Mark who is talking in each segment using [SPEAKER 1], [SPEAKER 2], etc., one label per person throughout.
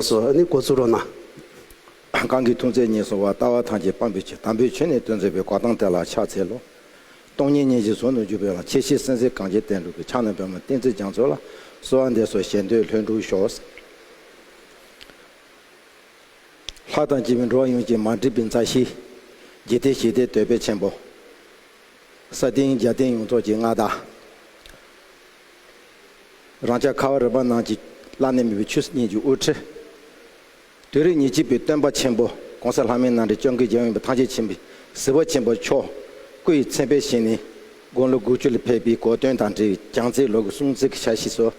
[SPEAKER 1] སོ་ནི་སྒོ་ཚུར་རོ་ན། གང་གིས་ཐུགས་མཚན་ཉིད་སོང་བ་ལྟ་བ་ཐམས་ཅད་སྤངས་པའི་ཕྱིར་དམ་པའི་ཆོས་ནི་དོན་མཛད་པའི་འགོག་སྟངས་དེ་ལ་ཕྱག་འཚལ་ལོ། སྟོང་ཉིད་མཉེས་བྱེད་ཟུང་དུ་འཇུག་པའི་ལ་ཁྱེད་ཤེས་སེམས་ཟིལ་གང་ཅན་བསྟན་འགྲོ་གི་ཕྱག་ན་པད་མོ་བསྟན་རྩིས་སྦྱངས་ཚུལ་ལ་གསོལ་བ་འདེབས་སོ་ཞེ་འདོད་ལྷུན་གྲུབ་ཤོག། ལྷ་དང་བཅས་པའི་འགྲོ་བ་ཡོངས་ཀྱི་མ་འདྲིས་པའི་མཛའ་བཤེས། རྒྱལ་བསྟན་བཞེས་སྡེའི་དོལ་པའི་ཆེན་པོ། ས་སྟེང་རྒྱལ་བསྟན་ཡོངས་རྫོགས་ཀྱི་མངའ་བདག། རང་ཅག་ཁ་བ་རི་པ་རྣམས་ཀྱིས་བླ་ནས་མི་བོའི་ཆོས་སྙིང་རྗེའི་དབུ་ཁྲིད། དུས་རབས་ཉི་གཅིག་པའི་སྟོན་པ་ཆེན་པོ ྋགོང་ས་ལྷ་མིའི་ནང་འདྲེན་སྐྱོང་གི་རྒྱལ་ཡོངས་པའི་ཐང་ཆེན་ཆེན་པོའི་ཟིལ་བ་ཆེན་པོ་མཆོག་སྐུ་ཡི་མཚན་དཔེ་བཞེངས་ནས་དགུང་ལོ་དགུ་བཅུ་ལ་ཕེབས་པའི་གོ་སྟོན་དང་འབྲེལ་བའི་གྱང་རྩེའི་ལོ་གི་སྲུང་བརྩི་གི་ཕྱག་བཞེས་སོ།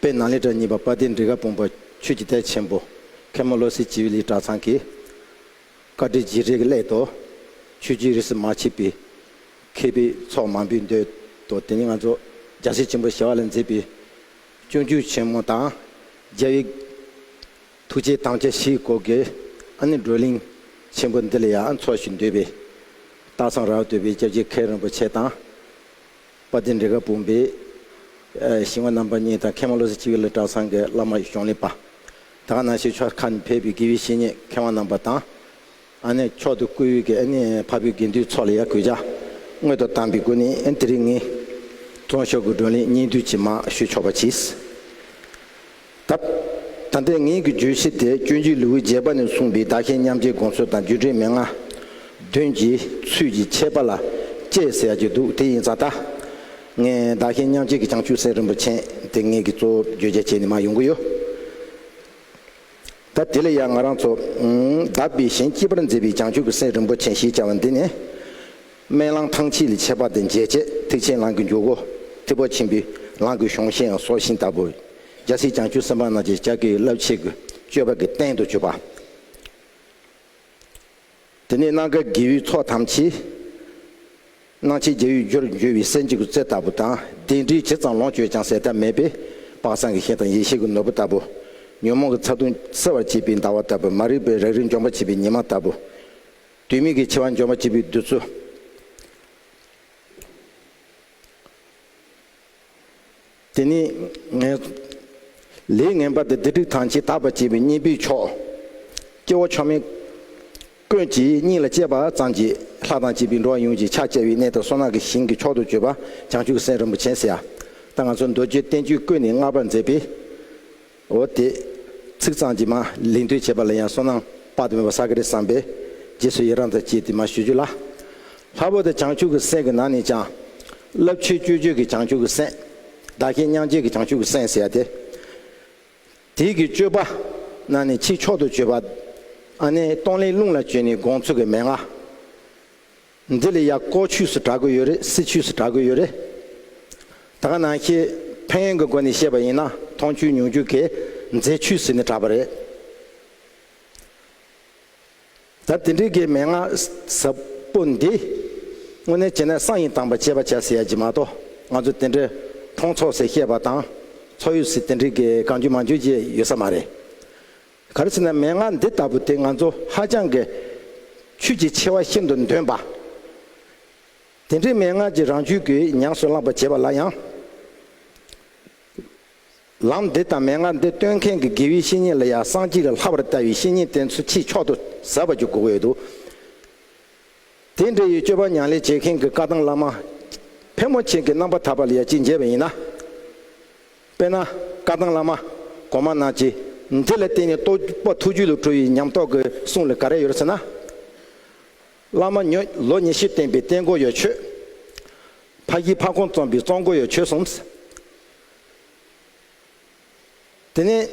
[SPEAKER 1] དཔེ་ནང་ལེགས་གྲྭ་གཉིས་པ་དཔའ་སྡེའི་འབྲི་ག་དཔུང་པ་ཆོས་ཀྱི་དད་ཆེན་པོ་མཁན་མོ་བློ་གསལ་བྱིས་པ་ལི་གྲྭ་ཚང་གིས། བཀའ་དྲིན་རྗེས་དྲན་གྱི་སླད་དུ། ཆོས་རྒྱུད་རིས་སུ་མ་ཕྱེད་པའི། མཁས་པའི་ཚོགས་མང་པོས་འདོད་དོ། དེ་ནས་ང་ཚོ་རྒྱ་ཤེལ་ཆེན་པོ་ཞེས་བ་ལ་མཛེས་པའི་སྤྱོད་རྒྱུད་ཆེན་མོ་དང། རྒྱལ་བའི་ཐུགས་རྗེའི་དམ་བཅའ་བཞིའི་སྐོར་གྱི་ཨ་ནི་བགྲོ་གླེང་ཆེན་པོ་འདི་ལ་ཡང་འཚོགས་ཤིག་འདོད་པས། སྟག་ཚང་རྭ་བ་སྡོད་པའི་སྐྱབས་རྗེ་མཁན་རིན་པོ་ཆེ་དང། དཔའ་སྡེ་འབྲི་ག་བུམ་པའི་ཞིང་བ་རྣམ་པ་གཉིས་དང་མཁས་དབང་བློ་གསལ་སྤྱི་བོའི་བླ་བྲང་ཚང་གི་བླ་མ་གཞུང་ལས་པདྨ་ནང་
[SPEAKER 2] ཆོས་ཆོས་ཁ་ནས་ཕེབས་པའི་དགེ་བའི་བཤེས་གཉེན་མཁས་དབང་རྣམ་པ་དང། ཨ་ནེ་མཆོག་ཏུ་བཀུར་འོས་ཀྱི་ཨ་ནེའི་ཕ་བུའི་དགེ་འདུན་ཚོགས་ལ་ཡང་གུས་ཅག་སྔོན་དུ་བཏང་པའི་སྒོ་ནས་དེ་རིང་ངས་དྲང་ཤོག་གི་བགྲོ་གླེང་སྙིང་བསྡུས་ཇི་མང་ཞུ་ཆོག་པ་གྱིས། ད་ལྟའི་ངེད་ཀྱི་བརྗོད་གཞི་དེ་སྤྱོད་འཇུག་ལེའུའི་བརྒྱད་པ་ནས་གསུངས་པའི་བདག་ཞལ་མཉམ་བརྗེའི་དགོངས་ཚུལ་དང་རྒྱུད་འགྲེལ་མན་ངག་བདུན་གྱི་ཚུལ་གྱིས་འཆད་པ་ལ་དཔྱད་ཟེར་ཡག་གྱི་འདུག་དེ་ཡིན་ཙང་ད་ངས་བདག་ཞལ་མཉམ་བརྗེ་གི་བྱང་ཆུབ་སེམས་རིན་པོ་ཆེན་དེ་ངེད་ཀྱི་གཙོ་བོར་བརྗོད་བྱ་བྱས་ནས་མ་ཡོང་གི་ཡོད། ད་དེ་ལ་ཡང་ང་རང་ཚོ། བདག་པས་གཞན་སྐྱིད་པར་མཛད་པའི་བྱང་ཆུབ་ཀྱི་སེམས་རིན་པོ་ཆེ་ཞེས་བྱ་བ་འདི་ནི། སྨན་གླང་ཐང་ཕྱེད་ལས་ཆད་པ་དང་མཇལ་ཆད་ཐེག་ཆེན་གླང་གི་འཇུག་སྒོ། ཐེག་པ་ཆེན་པོའི་གླང་གི་གཞུང་ཤེས་ཡང་སྲོག་ཤིང་ལྟ་བུ། རྒྱལ་སྲས་བྱང་ཆུབ་སེམས་དཔའ་རྣམས་ཀྱི་ལྕགས་ཀྱི་རླབས་ཆེན་གྱི་སྤྱོད་པ་གྱི་རྟེན་དུ་གྱུར་པ། དེ་ནས་སྣ་དཀར་རྒྱལ་བོའི་ཚོགས་ཐམས་ཅད། སྣང་བྱེད་རྒྱལ་བོའི་རྒྱུར་འགྱུར་བའི་གསལ་འབྱེད་ཀྱི་རྩལ་ལྟ་བུ་དང་ལྡན་འདྲིས་ཇི་ཙམ་ལོངས་སྤྱོད་ཀྱང་ཟད་མཐའ་མེད་པས་དཔག་བསམ་གྱི་ཤེས་དང་ཡེ་ཤེས་ཀྱི་ནོར་བུ་ལྟ་བུ། ཉོན་མོངས་ཀྱི་ཚ་གདུང་སེལ་བར་བྱེད་པའི་ཟླ་བ་ལྟ་བུ་མ་རིག་པའི་རང་རིག་འཇོམས་པར་བྱེད་པའི་ཉི་མ་ལྟ་བུ། དུས་མིན་གྱི་འཆི་བ་འཇོམས་པར་བྱེད་པའི་བདུད་རྩི། དེ་ནི་ངའི། ལས་ངན་པ་དེ་སྡིག་སྒྲིབ་དང་བྱེ་བྲག་པ་བྱེད་པའི་གཉེན་པོའི་མཆོག། སྐྱེ་བོ་མཆོག་མིན། ཀུན་གྱིས་སྙིང་ལ་གཅེས་པ་ཙམ་གྱིས་ལྷ་དང་བཅས་པའི་འགྲོ་བ་ཡོངས་ཀྱི་ཕྱག་བཅས་པའི་གནས་དང་སོ་ནག་གི་ཞིང་གི་མཆོག་ཏུ་གྱུར་པ་བྱང་ཆུབ་སེམས་རིན་པོ་ཆེ། ད་ང་ཚོ་མདོ་རྒྱུད་བསྟན་བཅོས་ཀུན་ནས་བསྔགས་པར་མཛད་པའི། འོ་དེས། ཚིག་གཙང་གྱིས་མ་ལིང་ཐོས་བྱས་པ་ལ་ཡང་སོ་ནང་དཔག་ཏུ་མེད་པ་ས་ག་རི་བསམས་པས། རྗེས་སུ་ཡི་རང་དང་བཅས་ཏེ་མ་ཞུ་རྒྱུ་ལ། ལྷ་བུ་དང་བྱང་ཆུབ་ཀྱི་སེམས་ཀྱི་ནང་ནས་ཀྱང། རླབས་ཆེའི་སྤྱོད་བྱེད་ཀྱི་བྱང་ཆུབ་ཀྱི་སེམས། བདག་བསྐྱེད་མྱང་བྱེད་ཀྱི་བྱང་ཆུབ་ཀྱི་སེམས་ཟེར་ཡ་སྟེ། དེས་ཀྱི་སྤྱོད་པ། ནང་ནས་ཆིག་ཆོག་ཏུ་སྤྱོད་པ། ཨ་ནེ་སྟོང་ལས་རླུང་ལ་བཅོལ་ནས་དགོངས་ཚུལ་གྱི་མན་ངག། འདི་ལ་ཡག་ཀོ་ཆུས་སུ་གྲགས་དགོས་ཡོད་རེད་སྲི་ཆུས་སུ་གྲགས་དགོས་ཡོད་རེད། ད་ག་ནང་ཤེས་ཕན་ཡོན་གི་སྒོ་ནས་བཤད་པ་ཡིན་ན་མཐོང་ཆུས་མྱོང་ཆུས་གས་མཛེས་ཆུས་ཟེར་ནས་གྲགས་པ་རེད། ད་དེ་འདྲི་གའི་མན་ངག་ཟབ་པོ་འདི་དངོས་གནས་བྱས་ན་གསང་ཡིན་དང་པ་བྱས་པ་བྱས་ཟེར་ཡ་གྱི་མ་གཏོགས་ང་ཚོ་དེ་འདྲའི་མཐོང་ཚོགས་ཟེར་བཤད་པ་དང་ཚོགས་ཡོད་ཟེར་དེ་འདྲི་གའི་གང་བརྗོད་མ་བརྗོད་བྱས་ཡོད་ས་མ་རེད། ག་རེ་ཟེར་ན་མན་ངག་འདི་ལྟ་བུ་དེ་ང་ཚོ་ཧ་ཅང་གི་ཆོས་ཀྱི་ཆེ་བ་ཤིན་ཏུ་འདོན་པ། དེ་འདྲའི་མན་ངག་ཅིག་རང་རྒྱུད་ཀྱི་ཉམས་སུ་བླངས་པར་བྱས་པ་ལ་ཡང། ལམ་འདི་དང་མན་ངག་འདི་སྟོན་མཁན་གྱི་དགེ་བའི་བཤེས་གཉེན་ལ་ཡང་སངས་རྒྱས་ཀྱི་ལྷ་བར་ལྟ་བའི་བཤེས་གཉེན་དེ་ཚོ་ཆེས་མཆོག་ཏུ་ཟབ་པར་གྱུར་དགོས་ཡོད་དོ། དེ་འདྲ་ཡི་སྤྱོད་པ་མྱང་ལས་བྱེད་མཁན་གྱི་བཀའ་ཐང་བླ་མ་ཕལ་མོ་ཆེ་གྱི་རྣམ་པ་དག་པ་ལ་ཡང་ཅི་མཇལ་བ་ཡིན་ན། དཔེར་ན། བཀའ་ཐང་བླ་མ། གོང་མ་རྣམས་ཀྱིས། འདི་ལ་བརྟེན་ནས་རྟོགས་པ་ཐུགས་རྒྱུད་ལ་གྲོལ་བའི་ཉམས་རྟོགས་ཀྱི་གསུང་ལ་ག་རེ་ཡོད་ཟེར་ན། བླ་མ་ཉོན། ལོ་ཉེར་བཞི་བསྟན་པའི་བསྟན་སྒོ་ཡོད་ཆོས། ཕ་བཞི་ཕ་གོང་རྩོམ་པའི་རྩོམ་སྒོ་ཡོད་ཆོས་གསུམ། དེ་ནས།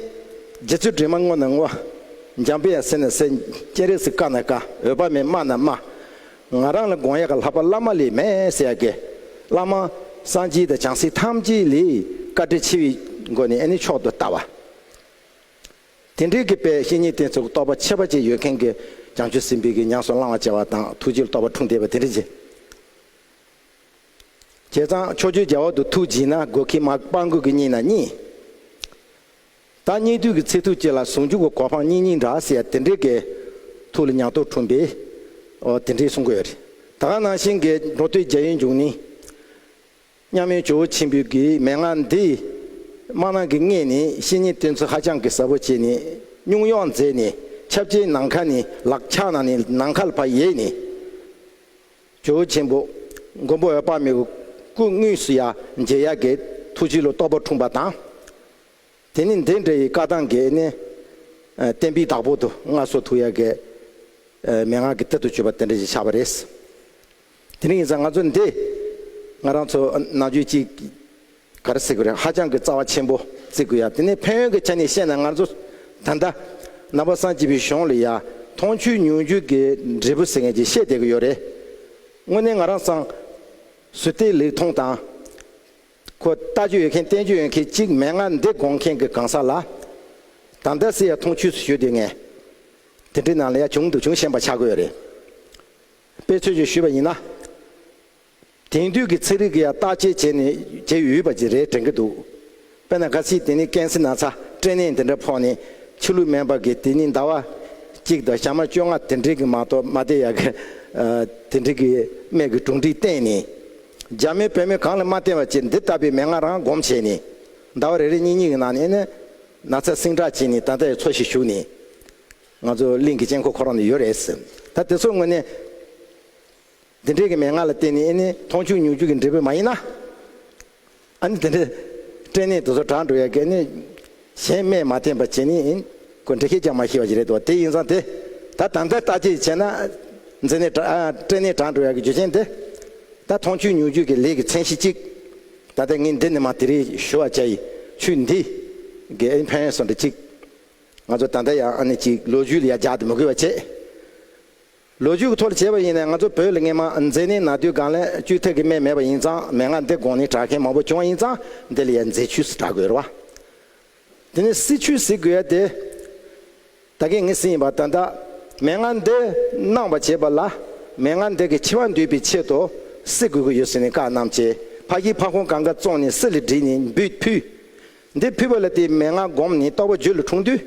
[SPEAKER 2] རྗེ་བཙུན་དྲི་མ་བསྔོ་ན་བསྔོ། འཇམ་དཔལ་ཡང་ཟེར་ན་ཟེར། སྤྱན་རས་གཟིགས་བཀའ་ན་བཀའ། འོད་དཔག་མེད་སྨྲ་ན་སྨྲ། ང་རང་ལ་དགོངས་ཡག་གི་ལྷག་པ་བླ་མ་ལས་མེད་ཟེར་ཡག་གི། བླ་མ། སངས་རྒྱས་དང་བྱང་སེམས་ཐམས་ཅད་ལས། བཀའ་དྲིན་ཆེ་བའི། སྒོ་ནས་ནི་མཆོག་ཏུ་ལྟ་བ། དེ་འདྲའི་གི་དཔལ་བཤེས་གཉེན་དེ་ཚོ་གི་རྟོགས་པ་ཆེ་བ་ཅིག་ཡོད་མཁན་གི། བྱང་ཆུབ་སེམས་དཔའི་གི་ཉམས་སུ་བླང་བ་བྱེད་པ་དང་ཐུགས་རྗེ་རྟོགས་པ་འཁྲུངས་བསྡད་པ་དེ་འདྲ་ཅིག། བྱས་ཙང་ཕྱོགས་བཅུའི་རྒྱལ་བ་དུ་ཐུགས་བགྱིས་ན་དགོས་ཁི་མ་སྤང་དགོས་གི་གཉིས་ན་གཉིས། བདག་སྙིང་ཐུགས་ཀྱི་ཚེ་ཐུགས་བསྐྱེད་ལ་ཟུང་འཇུག་གི་གོ་འཕང་སྙིང་སྙིང་འདྲ་ཟེར་ཡ་དེ་འདྲའི་དགའི། ཐུགས་ལ་མྱང་སྟོབས་འཁྲུངས་པས། འོ་དེ་འདྲའི་གསུང་དགོས་ཡ་རེད། ད་ག་ནང་བཞིན་དགའི་འགྲོ་སྟོད་རྒྱ་ཡི་འཇུག་ནི། མཉམ་མེད་ཇོ་བོ་ཆེན་པོའི་དགའི་མན་ངག་འདི། སྨྲ་ནང་གི་ལྔས་ནི་བཤེས་གཉེན་བསྟེན་ཚུལ་ཧ་ཅང་གི་ཟབ་བོ་བྱས་ནི། སྙུང་གཡོག་མཛད་ནི་ཁྱབ་བྱའི་ནང་ཁ་ནི་ལག་ཕྱག་ན་ནི་ནང་མཁའ་ལ་བ་ཡས་ནི། ཇོ་བོ་ཆེན་པོ། མགོན་པོ་འོད་དཔག་མེད་ཀུ་དངོས་སུ་ཡ་མཇལ་ཡ་དགའི་ཐུགས་བཞེད་ལོ་རྟོགས་པ་འཁྲུངས་པ་དང། དེ་ནི་འདི་འདྲ་ཡི་བཀའ་ཐང་འགས་ནི། བསྟན་པའི་བདག་པོ་དུ་ལྔ་སོགས་ཐུགས་ཡག་གི། མན་ངག་གི་གཏེར་དུ་གྱུར་པ་དེ་འདྲ་ཞིག་ཆགས་པ་རེད། དེ་རིང་ཡིན་ཙང་ང་ཚོ་འདི། ང་རང་ཚོ་ནང་ཆོས་གཅིག། ག་རེ་གཟིགས་དགོས་རེད་ཧ་ཅང་གི་རྩ་བ་ཆེན་པོ་གཟིགས་དགོས་ཡ་དེ་ནས་ཕན་ཡོན་གི་ཆ་ནས་བཤད་ན་ང་ཚོ། ད་ལྟ། ནང་པ་སངས་སྐྱིད་པའི་གཞུང་ལ་ཡ། མཐོང་ཆོས་མྱོང་ཆོས་ཀྱི་འབྲས་བུ་ཟེར་ངེས་ཀྱི་བཤད་བསྡད་ཀྱི་ཡོད་རེད། དངོས་གནས་ང་རང་སངས། སུ་ལྟས་ལེགས་མཐོང་དང། ཁོ་ལྟ་རྒྱུ་ཡོད་མཁན་བསྟེན་རྒྱུ་ཡོད་མཁན་གཅིག་མན་ངག་འདི་དགོངས་མཁན་གྱི་གང་ཟག་ལ། དང་ད་སི་ཡ་ཐུང་ཆུས་སུ་ཞུས་དུས་ངས། དེ་འདྲའི་ནང་ལ་ཡ་བྱུང་འདུག་བྱུང་ཤེས་པ་ཆགས་དགོས་རེད། དཔེ་འཚོལ་བྱོས་ཞུས་པ་ཡིན་ན། དེང་དུས་ཀྱི་ཚིག་རིགས་ཀྱི་ཡ་བརྟག་དཔྱད་བྱས་ནས་བྱས་ཡོད་པ་ཅིག་རེད་དྲན་གྱི་འདུག་དཔེར་ན་ག་སི་དེ་ནི་ཀན་སི་ན་ཚ་སྤྲེལ་ནད་འདི་འདྲ་ཕོག་ནས་ཕྱི་ལུགས་སྨན་པ་གིས་དེ་ནི་ཟླ་བ་གཅིག་དང་ཞག་མ་བཅོ་ལྔ་དེ་འདྲའི་གི་མ་གཏོགས་མ་བསྡད་ཡ་གི། དེ་འདྲའི་གི་སྨན་གྱི་གྲུང་འདྲིས་བསྟེན་ནས། རྒྱ་མིས་བོད་མི་གང་ལ་མ་བསྟན་པ་བཅས་འདི་ལྟ་བུའི་མན་ངག་རང་བསྒོམ་བྱས་ནས། ཟླ་བ་རེ་རེ་གཉིས་གཉིས་ཀྱི་ནང་ནས་ནི། ན་ཚ་སྲིང་དྲག་བྱས་ནས་ད་ལྟའི་འཚོ་བཞིན་བཞུགས་ནས། ང་ཚོ་གླིང་གི་དཀྱིལ་འཁོར་ཁོ་རང་དུ་ཡོད་རེད་ཟེར། ད་དེ་ཚོ་དངོས་གནས། འདི་འདྲའི་གི་མན་ངག་ལ་བརྟེན་ནས་ནི་མཐོང་ཆུང་ཉུང་ཆུང་གི་འབྲས་བུ་མ་ཡིན་ན། ཨ་ནི་དེ་འདྲའི་སྐྲན་ནད་དུ་ཚོ་དྲག་འགྲོ་ཡ་གལ་ནི། གཞན་སྨན་མ་བསྟེན་པར་བྱེད་ནི་ཡིན། ཁོས་འདྲི་ཁས་ཀྱང་མ་ཤེས་པ་ཞིག་རེད་དོ་དེ་ཡིན་ཙང་དེ། ད་དང་ལྟ་བརྟག་དཔྱད་བྱས་ན། མཛེ་ནད་དྲག་སྐྲན་ནད་དྲག་འགྲོ་ཡ་གི་རྒྱུ་ཆེན་དེ། ད་མཐོང་ཆོས་མྱོང་རྒྱུད་ཀྱི་ལས་ཀྱི་མཚན་གཞི་གཅིག། ད་ལྟ་ངས་འདི་ནས་མ་དེ་རིང་ཞུ་བ་བྱ་ཡི། ཆུ་འདི། གི་ཨ་ནི་ཕན་ཡོན་སོགས་འདྲི་གཅིག། ང་ཚོ་ད་ལྟ་ཡང་ཨ་ནི་གཅིག་ལོ་རྒྱུས་ལ་ཡར་རྒྱག་ཏུ་མི་དགོས་པ་བྱེད། ལོ་རྒྱུས་ཀྱི་ཐོག་ལ་བྱས་པ་ཡིན་ནའི་ང་ཚོ་བོད་ལ་རྔན་མ་འཛེགས་ནི་ན་དུས་སྒང་ལས་བཅུ་ཐེག་གི་སྨད་མེད་པ་ཡིན་ཙང་མན་ངག་འདི་དགོངས་ནས་གྲགས་མཁན་མང་པོ་བྱུང་བ་ཡིན་ཙང་འདི་ལ་ཡང་མཛེས་ཆུས་སུ་གྲགས་དགོས་རེད་བ། དེ་ནས་སྲིད་ཆུས་ཟེར་དགོས་ཡ་དེ། ད་གིན་ངས་སྲིད་ཡིན་པ་ད་ལྟ་མན་ངག་འདི་གནང་བ་བྱས་པ་ལ་མན་ངག་འདི་གི་ཆེ་བ་འདུས་པའི་ཆེད་དུ་སྲིད་དགོས་ཀྱི་ཡོད་ཟེར་ནས་བཀའ་གནང་བྱས་ཕ་ཁྱིའི་ཕ་ཁོང་གང་ག་བཙོང་ནས་སྲིད་ལ་བྲིས་ནས་འབུད་ཕུད། འདིར་ཕུལ་བ་ལ་དེའི་མན་ངག་བསྒོམས་ནས་རྟོགས་པ་བརྗོད་ལ་འཁྲུངས་དུས།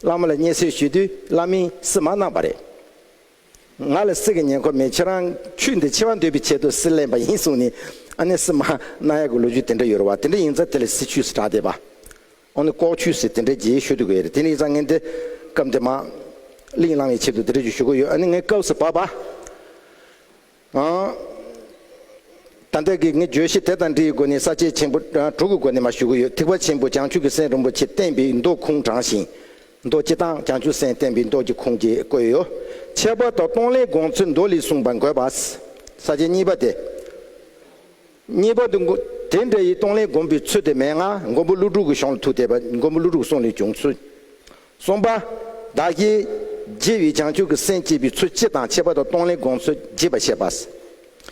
[SPEAKER 2] བླ་མ་ལ་བརྙས་སེལ་ཞུས་དུས་བླ་མས་སིལ་མ་གནང་བ་རེད། ང་ལ་སིལ་གྱི་ཉེན་ཁོ་མེད་ཁྱེད་རང་ཆུ་འདི་ཕྱེ་བ་འདོད་པའི་ཆེད་དུ་སིལ་ལེན་པ་ཡིན་གསུངས་ནས་ཨ་ནེ་སིལ་མ་གནང་ཡག་གི་ལོ་རྒྱུས་དེ་འདྲ་ཡོད་རེད་བ་དེ་འདྲ་ཡིན་ཙང་དེ་ལ་སིལ་ཆུས་སུ་གྲགས་བསྡད་པ་འོ་ནི་ལྐོག་ཆུས་སིལ་དེ་འདྲ་རྒྱས་ཞུ་དགོས་རེད་དེ་ནི་ཡིན་ཙང་ངས་འདི་སྐབས་འདི་མ་གླིང་བླང་བའི་ཆེད་དུ་དེ་འདྲ་ཞུ་དགོས་ཡོད་ཨ་ནི་ངའི་སྐབས་སུ་བབ་པ། ད་ལྟའི་གི་ངས་བརྗོད་གཞི་དེ་དང་འདྲིའི་སྒོ་ནས་ས་བཅད་ཆེན་པོ་དྲུག་གི་སྒོ་ནས་མ་ཞུ་གི་ཡོད་ཐིག་པ་ཆེན་པོ་བྱང་ཆུབ་ཀྱི་སེམས་རིན་པོ་ཆེ་བསྟན་པའི་མདོ་ཁུངས་དྲངས་ཤིང། མདོ་སྤྱི་དང་བྱང་ཆུབ་སེམས་བསྟན་པའི་མདོ་ཀྱི་ཁུངས་ཀྱི་བཀོད་ཡོད། ཁྱད་པར་དུ་སྟོང་ལས་དགོངས་ཚུལ་མདོ་ལས་གསུངས་པ་འགོད་པ། ས་བཅད་གཉིས་པ་སྟེ། གཉིས་པ་དུ། དེ་འདྲ་ཡི་སྟོང་ལས་སྒོམ་པའི་ཚུལ་དེ་མན་ངག་མགོན་པོ་ཀླུ་སྒྲུབ་ཀྱི་གཞུང་ལ་ཐུག་སྟེ། མགོན་པོ་ཀླུ་སྒྲུབ་གསུང་ལས་བྱུང་ཚུལ། གསུམ་པ། བདག་གིས། རྗེ་བའི་བྱང་ཆུབ་ཀྱི་སེམས་བསྐྱེད་པའི་ཚུལ་སྤྱི་དང་ཁྱད་པར་དུ་སྟོང་ལས་དགོངས་ཚུལ་རྒྱས་པར་བཤད་པ།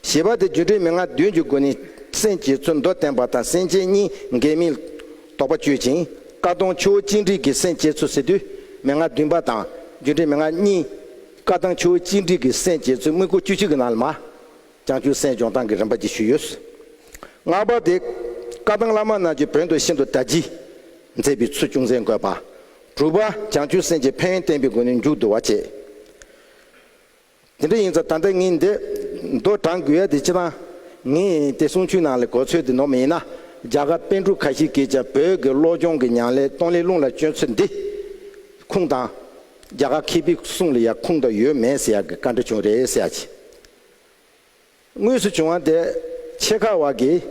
[SPEAKER 2] ཞེས་པ་དེ་སྒྱུ་འཕྲུལ་མན་ངག་བདུན་གྱི་སྒོ་ནས་སེམས་བསྐྱེད་ཚུལ་མདོར་བསྟན་པ་དང་སེམས་ཅན་གཉིས་འགལ་མིན་དོགས་པ་གཅོད་ཅིང་བཀའ་གདམས་ཆུ་བོ་གཅིག་འདྲིལ་གྱི་སེམས་བསྐྱེད་ཚུལ་ཟེར་དུས་མན་ངག་བདུན་པ་དང་སྒྱུ་འཕྲུལ་མན་ངག་གཉིས། བཀའ་གདམས་ཆུ་བོ་གཅིག་འདྲིལ་གྱི་སེམས་བསྐྱེད་ཚུལ་དངོས་པོ་བཅུ་གཅིག་གི་ནང་ལ་མ། ཀྱང་ཅུང་ཟད་སྦྱོང་སྟངས་ཀྱི་རིམ་པ་བརྒྱད་ཞུས་ཡོད། ལྔ་པ་དེ། བཀའ་ཐང་བླ་མ་རྣམས་ཀྱི་བོན་དུ་ཤིན་ཏུ་གྲ་འཇིགས། མཛད་པའི་ཚུལ་ཅུང་ཟད་འགོད་པ། དྲུག་པ། བྱང་ཆུབ་སེམས་ཀྱི་ཕན་ཡོན་བསྟན་པའི་སྒོ་ནས་མཇུག་བསྡུ་བ་བྱས། དེ་འདྲ་ཡིན་ཙང་ད་ལྟ་ངས་འདི། མདོ་དྲངས་དགོས་ཡ་དེ་ཅི་ཐང། ངས་དེ་གསུང་ཆོས་ནང་ལས་གོ་ཚོད་དེ་ནོར་མི་ཡིན་ན། རྒྱ་གར་དཔོན་དྲུག་ཁ་ཤས་ཀྱིས་ཀྱང་བོད་ཀྱི་བློ་སྦྱོང་གི་ཉང་ལེ་སྟོང་ལེ་རླུང་ལ་བཅོལ་ཚུལ་འདི། ཁུངས་དང། རྒྱ་གར་མཁས་པའི་གསུང་ལ་ཡང་ཁུངས་དང་ཡོད་མེད་ཟེར་ཡག་གི་བཀའ་འདྲི་བྱུང་རེད་ཟེར་ཡག་གི། དངོས་སུ་བྱུང་བ་དེ་ཆེད་ཁག་བག་གིས་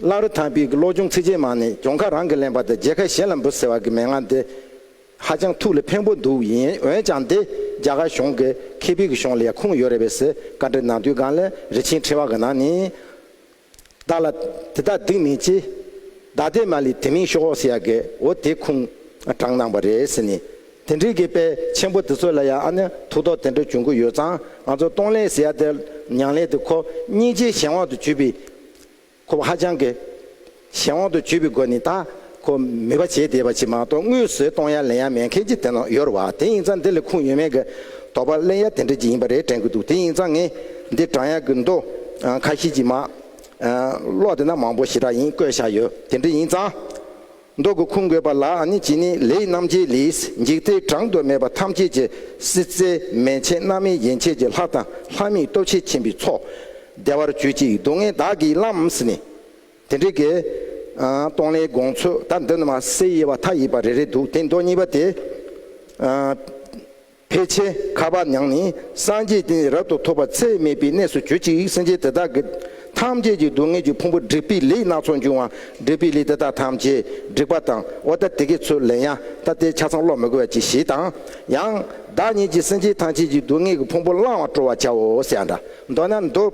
[SPEAKER 2] གླ་རུ་དང་པིའི་གློག་ཅུང་ཚིགས་ཆེན་མང་ནས་གྱོང་ཁ་རང་གིས་ལེན་པ་དང་རྗེས་ཁ་གཞན་ལ་འབུལ་ཟེར་བ་གི་མན་ངག་འདི་ཧ་ཅང་ཐུགས་ལ་ཕན་པོ་འདུག་ཡིན་འོན་ཀྱང་འདི་རྒྱ་གར་གཞུང་གི་ཁེ་ཕིག་གི་གཞུང་ལ་ཡང་ཁུངས་ཡོད་རེད་བས་སི་ཀ་འདྲི་ནང་དུས་སྒང་ལ་རི་ཆེན་ཕྲེང་བ་གི་ནང་ནས་བདག་ལ་དེ་དག་སྡིག་མེད་ཅེས། བདག་དེས་མ་ལི་དེ་མིང་ཤོ་ཨོ་སི་ཡ་གེ་འོ་དེ་ཁུང་དྲངས་གནང་བ་རེད་ཟེར་ནས། དེ་འདྲའི་གེ་དཔལ་ཆེན་པོ་དེ་ཚོ་ལ་ཡང་ཨ་ནི་ཐུགས་དོགས་དེ་འདྲ་བྱུང་གི་ཡོད་ཙང་ང་ཚོ་སྟོང་ལས་སི་ཡ་དེ་ཉང་ལས་དེ་ཁོ་སྙིང་རྗེའི་གཞན་དབང་དུ་གྱུར་པའི། ཁོ་བོ་ཧ་ཅང་གི་གཞན་དབང་དུ་གྱུར་པའི་སྒོ་ནས་ད། ཁོ་མོས་པ་བྱས་བསྡད་པ་ཅིག་མ་གཏོགས་དངུལ་བཟོས་གཏོང་ཡ་ལེན་ཡ་མེད་མཁན་གྱི་དེ་ནང་ཡོར་བ་དེ་ཡིན་ཙང་འདི་ལས་ཁུངས་ཡོད་མེད་ཀྱི་དོགས་པ་གླེང་ཡ་དེ་འདྲ་ཅིག་ཡིན་པ་རེད་དྲན་གྱི་འདུག་དེ་ཡིན་ཙང་ངས་འདི་བགྲང་ཡ་གྱི་འདུག་ཁ་ཤེས་ཀྱི་མ་གློག་དེ་ན་མང་པོ་ཞེ་དྲག་ཡིན་བཀོད་བཞག་ཡོད་དེ་འདྲ་ཡིན་ཙང་འདོགས་གྱི་ཁུངས་དགོས་པ་ལ་ཨ་ནི་ཅི་ནི་ལེ་ཡི་རྣམ་འབྱེད་ལིས་འཇིག་རྟེན་གྲངས་དུ་མེད་པ་ཐམས་ཅད་ཀྱི་སྲིད་རྩེ་མན་ཆད་རྣམ་སྨིན་ཡན་ཆད་ཀྱི་ལྷ་དང་ལྷ་མིའི་སྟོབས་ཆེས་ཆེན་པོའི་ཚོགས་བདེ་བར་གྱུར་ཅིག་སྡུག་བསྔལ་བདག་གིས་བླངས་ནི། དེ་འདྲའི་དགེ། སྟོང་ལས་དགོངས་ཚུལ་ད་འདི་ནི་མ་གསལ་དབྱེ་བ་མཐའ་ཡས་པ་རེ་རེ་འདུག་དེ་མདོ་གཉིས་པ་དེ། ཕལ་ཆེར་ཁ་བ་ཉང་ནི་སངས་རྒྱས་བསྟན་འཛིན་རབ་ཏུ་ཐོབ་པ་ཚད་མེད་པའི་གནས་སུ་གྱུར་ཅིག་སེམས་ཅན་དེ་དག་གི། ཐམས་ཅད་ཀྱི་སྡུག་བསྔལ་གྱི་ཕུང་པོ་བསྒྲིགས་པས་ལེགས་སྣ་ཚོགས་འབྱུང་བ་བསྒྲིགས་པས་ལེགས་དེ་དག་ཐམས་ཅད་བསྒྲིགས་པ་དང་བ་ད་དེ་གའི་ཚུལ་ལེན་ཡང་ད་ལྟའི་ཆ་ཚང་ཀློག་མི་དགོས་པ་གྱིས་ཤིག་དང། ཡང། བདག་ཉིད་ཀྱིས་སེམས་ཅན་ཐམས་ཅད་ཀྱི་སྡུག་བསྔལ་གྱི་ཕུང་པོ་བླང་བར་སྤྲོ་བར་བྱའོ་ཞེས་འདྲ་མདོ་ན་འདུག།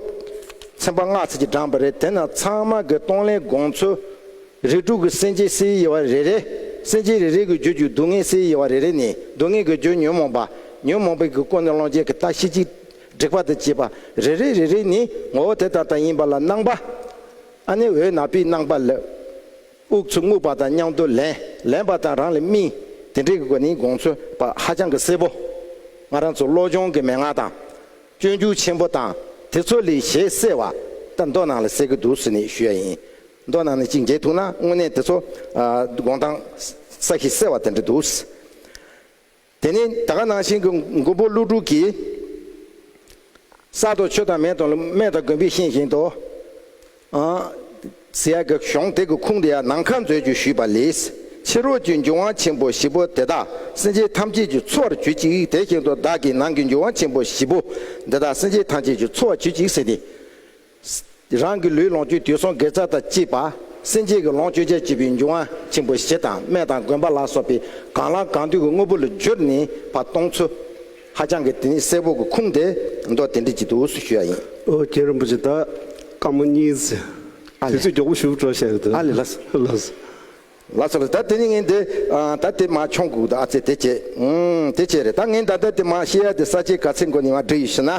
[SPEAKER 2] ཚན་པ་སྔགས་ཚིག་གིས་དྲངས་པ་རེད་དེ་ན་ཚང་མ་གི་གཏོང་ལེན་དགོངས་ཚུལ། རིགས་དྲུག་གི་སེམས་ཅན་སའི་དབྱེ་བ་རེ་རེ། སེམས་ཅན་རེ་རེ་གི་རྒྱུད་རྒྱུ་སྡུག་བསྔལ་སའི་དབྱེ་བ་རེ་རེ་ནི་སྡུག་བསྔལ་གི་རྒྱུ་ཉོན་མོངས་པ། ཉོན་མོངས་པའི་གི་ཀུན་ནས་ལོངས་སྤྱད་གི་རྟགས་ཤེས་གཅིག། སྒྲིག་པ་དང་བཅས་པ་རེ་རེ་རེ་རེ་ནི་ངོ་བོ་དེ་ལྟར་དང་ཡིན་པ་ལ་སྣང་བ། ཨ་ནི་འོད་ནག་པའི་སྣང་བ་ལས། དབུགས་ཆུ་རྔུབ་པ་དང་མཉམ་དུ་ལེན། ལེན་པ་དང་རང་ལ་སྨིན། དེ་འདྲའི་དགོས་ནི་དགོངས་ཚོལ་བ་ཧ་ཅང་གི་གསལ་བོ། ང་རང་ཚོ་བློ་སྦྱོང་གི་མན་ངག་དང། སྤྱོད་འཇུག་ཆེན་པོ་དང་དེ་ཚོ་ལས་ཞེས་གསལ་བ། ད་མདོ་ནང་ལ་གསལ་གི་འདུག་ཟེར་ནས་ཞུ་ཡ་ཡིན། མདོ་ནང་ནས་གཅིག་མཇལ་ཐུག་ན་དངོས་གནས་དེ་ཚོ་དགོངས་སྟངས་ས་གཞི་གསལ་བ་དེ་འདྲ་འདུག། དེ་ནས་ད་ག་ནང་བཞིན་གྱི་མགོན་པོ་ཀླུ་སྒྲུབ་ཀྱིས། གསར་དུ་ཆུ་དང་མེ་དང་རྨེ་དང་དགོན་པའི་ཤིང་བཞིན་དུ། ཟེ་ཡག་གི་གཞོང་དེ་གི་ཁུང་དེ་ཡང་ནམ་མཁའ་མཛོད་ཅིག་ཞུས་པ་ལས།
[SPEAKER 1] ཕྱི་རོལ་གྱི་འབྱུང་བ་ཆེན་པོ་བཞི་པོ་དེ་དག་སེམས་ཅན་ཐམས་ཅད་ཀྱི་འཚོ་བར་གྱུར་ཅིག་དེ་བཞིན་དུ་བདག་གིས་ནང་གི་འབྱུང་བ་ཆེན་པོ་བཞི་པོ་འདི་དག་སེམས་ཅན་ཐམས་ཅད་ཀྱི་འཚོ་བར་གྱུར་ཅིག་ཟེར་ཏེ། རང་གི་ལུས་ལོངས་སྤྱོད་དུས་སོང་དགེ་རྩ་དང་བཅས་པ། སེམས་ཅན་གྱི་ལོངས་སྤྱོད་ཆར་བཅུད་པའི་འབྱུང་བ་ཆེན་པོ་བཞི་དང་སྨན་དང་དགོན་པ་ལ་སོགས་པའི་གང་ལ་གང་འདུལ་གྱི་དངོས་པོ་ལ་སྦྱོར་ནས་བར་སྟོང་ཚུལ། ཧ་ཅང་གི་དེ་ནས་སེར་པོ་གི་ཁུངས་དེ་མདོ་སྡེ་འདི་ཅིག་ཏུ་སུ་ཞུ་ཡ་ཡིན། ཨོ་རྒྱན་རིན་པོ་ཆེ་དང་དཀར་མོ་གཉིས་ཚེ་དེ་ཚོས་མགྱོགས་པོ་ཞུགས་འགྲོ་བཤད་ཡོད་ཨ་ལས་ལ་སོ། ལ་སོ་ལ་ད་དེ་ནས་ངས་འདི་ད་དེ་མ་ཆོངས་གུག་ད་ཨ་ཚེ་དེ་བྱས། དེ་བྱས་རེད་ད་ངས་ད་ད་དེ་མ་ཤེས་ཡ་དེ་ས་ཆའི་ག་ཚེ་མགོ་ནས་བ་འབྲི་ཡོད་ཤི་ན།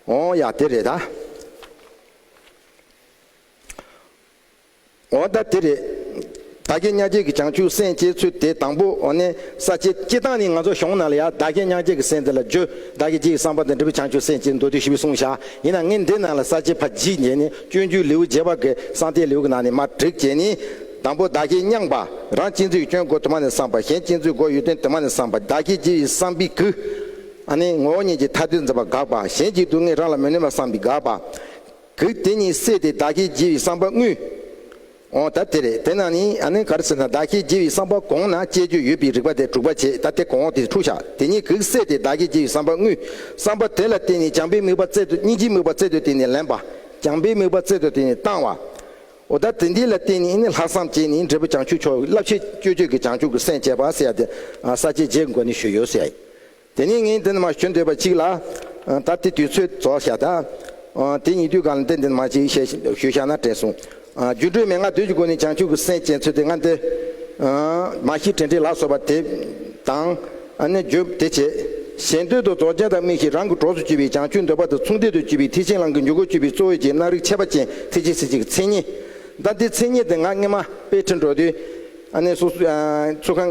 [SPEAKER 1] ཨོ་ཡ་དེ་རེད་ད། ཨོ་ད་དེ་རེད། ད་རྒྱལ་གཉའ་རྒྱལ་གྱི་བྱང་ཆུབ་སེམས་བསྐྱེད་ཚུལ་དེ་དང་པོ་ཨོ་ནི་ས་བཅད་སྤྱི་སྟངས་ནི་ང་ཚོ་གཞུང་ནང་ལ་ཡང་ད་རྒྱལ་གཉའ་རྒྱལ་གྱི་སེམས་དེ་ལ་རྗོད་ད་རྒྱལ་གྱི་བསམ་པ་དང་འབྲེལ་བའི་བྱང་ཆུབ་སེམས་བསྐྱེད་མདོ་དུས་བཞི་པའི་གསུང་བཞག་ཡིན་ན་ངས་འདི་ནང་ལ་ས་བཅད་ཕ་རྗིད་འབྱེད་ནི་སྤྱོད་འཇུག་ལེའུ་བརྒྱད་པ་གི་གསང་སྟེ་ལེའུ་གི་ནང་ནས་མ་བསྒྲིགས་བྱས་ནི། དང་པོ་ད་རྒྱལ་བསྙངས་པ་རང་གཅིག་མཛོད་ཀྱི་སྐྱོན་སྒོ་དུ་མ་ནས་བསམ་པ་གཞན་གཅིག་མཛོད་སྒོ་ཡོད་དོན་དུ་མ་ནས་བསམ་པ་ད་རྒྱལ་གྱི་བསམ་པའི་གུ། ཨ་ནི་ངོ་བོ་ཉིད་ཀྱི་ཐ་དད་འཛིན་པ་དགག་པ་གཞན་གྱི་སྡུག་བསྔལ་རང་ལ་མི་གནོད་པར་བསམ་པའི་དགག་པ། གིས་དེ་ཉིད་བསལ་ཏེ་བདག་གིས་བགྱི་བའི་བསམ་པ་དངོས།
[SPEAKER 2] འོ་ད་དེ་རེད་དེ་ན་ནི་ཨ་ནི་ག་རེ་ཟེར་ན་བདག་གིས་བགྱི་བའི་བསམ་པ་གོང་ན་སྤྱད་རྒྱུ་ཡོད་པའི་རིགས་པ་དེ་དྲུག་པ་བྱས་ད་དེ་གོང་འོག་དེ་འཁྲུགས་བྱ་དེ་ཉིད་གིས་བསལ་ཏེ་བདག་གིས་བགྱི་བའི་བསམ་པ་དངོས། བསམ་པ་དེ་ལ་བརྟེན་ནས་བྱམས་པའི་དམིགས་པ་བསྩལ་ཏོ་སྙིང་རྗེའི་དམིགས་པ་བསྩལ་ཏོ་དེ་ནི་ལེན་པ། བྱམས་པའི་དམིགས་པ་བསྩལ་ཏོ་དེ་ནི་བཏང་བ། འོ་ད་དེ་འདི་ལ་བརྟེན་ནས་ནི་ལྷག་བསམ་བསྐྱེད་ནས་འབྲས་བུ་བྱང་ཆུབ་མཆོག་གི་རླབས་ཆེན་སྤྱོད་བརྗོད་ཀྱི་བྱང་ཆུབ་ཀྱི་སེམས་བསྐྱེད་པ། ས་བཅད་བརྒྱད་འགོ་ནས་ཞུས་ཡོད། དེ་ནས་ངས་འདི་ནི་མ་ཞུ་འདོད་པ་གཅིག་ལ། ད་ལྟའི་དུས་ཚོད་རྫོགས་ཤག་ད། དེ་ཉིད་དུས་གང་ལ་འདི་འདི་ནི་མ་གཅིག་བཤད་ཞུ་བཞག་ན་དྲན་གསུངས། རྒྱུ་འགྲོས་མེད་ང་བདུད་ཀྱི་སྒོ་ནས་བྱང་ཆུབ་ཀྱི་སེམས་བསྐྱེད་ཚུལ་དེ་སྔ་འདི། མ་གཞི་དྲན་འཕྲིན་ལག་སོགས་པ་དེ་དང། ནི་བརྗོད་དེ་བྱས། གཞན་དོན་དུ་རྫོགས་ཆེན་དང་དམིགས་ཤིང་རང་གི་གྲོགས་སུ་གྱུར་པའི་བྱང་ཆུབ་འདོད་པ་དང་མཚུངས་ལྡན་དུ་གྱུར་པའི་ཐེག་ཆེན་ལམ་གྱི་འཇུག་སྒོར་གྱུར་པའི་གཙོ་བོའི་རྗེས་གནང་རིགས་ཆད་པ་ཅན་ཐེག་ཆེན་སྲིད་ཅིག་གི་མཚན་ཉིད། ད་ལྟའི་མཚན་ཉིད་དེ་ང་སྔེ་མ་པས་འཕྲིན་གྲོགས་དུས། ཚུར་ཁང།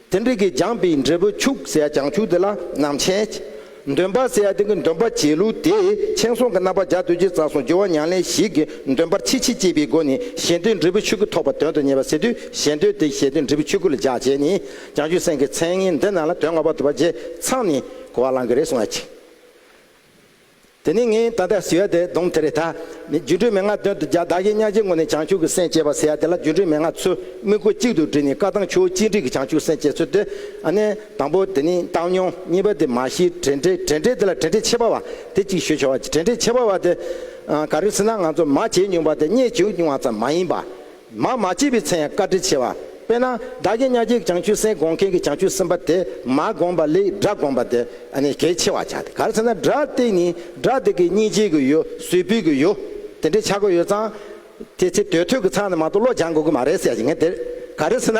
[SPEAKER 2] དེ་འདྲ་གི་སྦྱངས་པའི་འབྲས་བུ་ཕྱུག་ཟེར་ཡ་སྦྱངས་ཕྱུག་དེ་ལ་ནང་མཆན། འདོན་པ་ཟེར་ཡ་དེ་གི་འདོན་པ་བྱེད་ལུགས་དེས་མཆན་སོང་གི་རྣམ་པ་འཇགས་དུས་ཀྱི་རྩ་སོང་སྦྱོར་བ་མྱང་ལེན་ཞིག་གི་འདོན་པར་ཕྱིས་ཕྱིས་བཅས་པའི་སྒོ་ནས་ཞེ་འདོད་འབྲས་བུ་ཕྱུག་གི་ཐོབ་པ་དོན་དུ་གཉེར་བ་ཟེར་དུས་ཞེ་འདོད་དེ་ཞེ་འདོད་འབྲས་བུ་ཕྱུག་གི་ལ་འཇགས་བྱས་ནས་སྦྱངས་ཕྱུག་སེང་གེའི་མཚན་ངན་འདི་རྣམས་ལ་དོན་ལྔ་པ་དུ་བ་རྗེས་ཚང་ནས་གོ་བ་བླང་གི་རེད་གསུང་བ་ཅིག། དེ་ནས་ངས་ད་ལྟ་ཟེ་ཡ་དེ་གདོང་དེ་རེད་ད། ནས་སྒྱུ་འཕྲུལ་མན་ངག་དོན་དུ་བརྒྱག་བདག་གིས་གཉའ་ཁྱིའི་ངོ་ནས་བྱང་ཆུབ་ཀྱི་སེམས་བསྐྱེད་པ་ཟེ་ཡ་དེ་ལ་སྒྱུ་འཕྲུལ་མན་ངག་ཚོས་དམིགས་སྒོ་གཅིག་ཏུ་བསྒྲིལ་ནས་བཀའ་ཐང་ཆོས་གཅིག་སྒྲིག་གི་བྱང་ཆུབ་སེམས་བསྐྱེད་ཚུལ་དེ། ཨ་ནེ། དང་པོ་དེ་ནི་བཏང་སྙོམས་གཉིས་པ་དེ་མ་གཞི་བྲལ་འབྲས་བྲལ་འབྲས་དེ་ལ་བྲལ་འབྲས་ཕྱེད་པ་བ་དེ་གཅིག་ཞུ་བྱ་བ་བྲལ་འབྲས་ཕྱེད་པ་བ་དེ། ག་རེ་ཟེར་ན་ང་ཚོ་མ་བྱས་མྱོང་པ་དེ་རྙེད་བྱུང་མྱོང་བ་ཙམ་མ་ཡིན་པ། མ་མ་སྐྱེས་པའི་ཚེ་ཡང་བཀའ་དྲིན་ཆེ་བ། དཔེར་ན་དགྲ་བགེགས་གཉའ་བགེགས་བྱང་ཆུབ་སེམས་དགོངས་མཁན་གྱི་བྱང་ཆུབ་སེམས་དཔའ་དེ་མ་དགོངས་པ་ལས་དགྲ་དགོངས་པ་དེ་ནི་གལ་ཆེ་བར་བྱ་སྟེ་ག་རེ་ཚེ་ན་དགྲ་སྟེ་ནི་དགྲ་དེ་གི་གཉིས་སྐྱེས་གི་ཡོད་གཟུགས་པོའི་གི་ཡོད་དེ་འདྲའི་ཆག་སྒོ་ཡོད་ཙང། དེ་ཚེ་དོལ་ཐོས་གི་ཚང་ནས་མ་གཏོགས་བློ་སྦྱང་དགོས་གི་མ་རེད་ཟེར་ཡ་ཡིན་ངེས་དེར་ག་རེ་ཚེ་ན།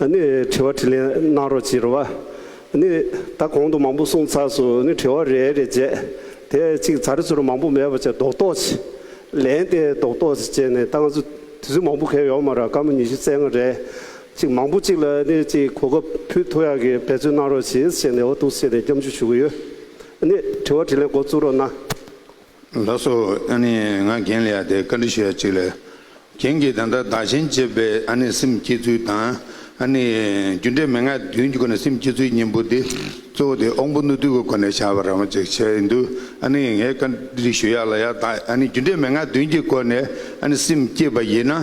[SPEAKER 2] ནི་
[SPEAKER 1] དྲི་བ་དྲིས་ལན་གནང་རོགས་ཅེས་རོ་བ་ནི་ད་གོང་དུ་མང་པོ་གསུངས་ཚར་སོ་ནི་དྲི་བ་རེ་རེ་བྱས་དེ་གཅིག་ཚར་ཚུར་མང་པོ་མེད་པ་བྱས་རྡོག་རྡོག་བྱས་ལན་དེ་རྡོག་རྡོག་བྱས་བྱས་ནས་ད་ང་ཚོ་དུས་ཚོད་མང་པོ་གས་ཡོག་མ་ར་དཀའ་མོ་ཉི་ཤུ་རྩེ་ལྔ་རེད་ཅིག་མང་པོ་གཅིག་ལ་ནི་ཅིག་གོ་སྐབས་ཕུལ་ཐུགས་ཡག་གི་འབད་རྩོལ་གནང་རོགས་ཞེས་བྱས་ནས་འོ་ཐུགས་བསེ་ནས་སྐྱབས་འཇུག་ཞུ་གི་ཡོད་ནི་དྲི་བ་དྲིས་ལན་འགོ་བཙུགས་རོགས་གནང། ལགས་སོ། ཨ་ནི་ང་རྒན་ལ་ཡར་དེ་བཀའ་འདྲི་ཞུ་ཡ་གཅིག་ལས། རྒན་གྱིས་ད་ལྟ་བདག་ཆེན་བཅས་པའི་ཨ་ནི་སེམས་བསྐྱེད་
[SPEAKER 3] ཚུལ་དང་ཨ་ནི་རྒྱུ་འབྲས་མན་ངག་བདུན་གྱི་སྒོ་ནས་སེམས་བསྐྱེད་ཚུལ་གཉིས་པོ་དེ་གཙོ་བོ་དེ་དབང་པོ་རྣོ་རྟུལ་གྱི་སྒོ་ནས་བྱ་བ་རང་བྱེད་བྱས་ཡོད་འདུག་ཨ་ནི་ངས་བཀའ་འདྲི་ཞུ་ཡ་ལ་ཡར་དག་ཨ་ནི་རྒྱུ་འབྲས་མན་ངག་བདུན་གྱི་སྒོ་ནས་ཨ་ནི་སེམས་བསྐྱེད་པ་ཡིན་ན།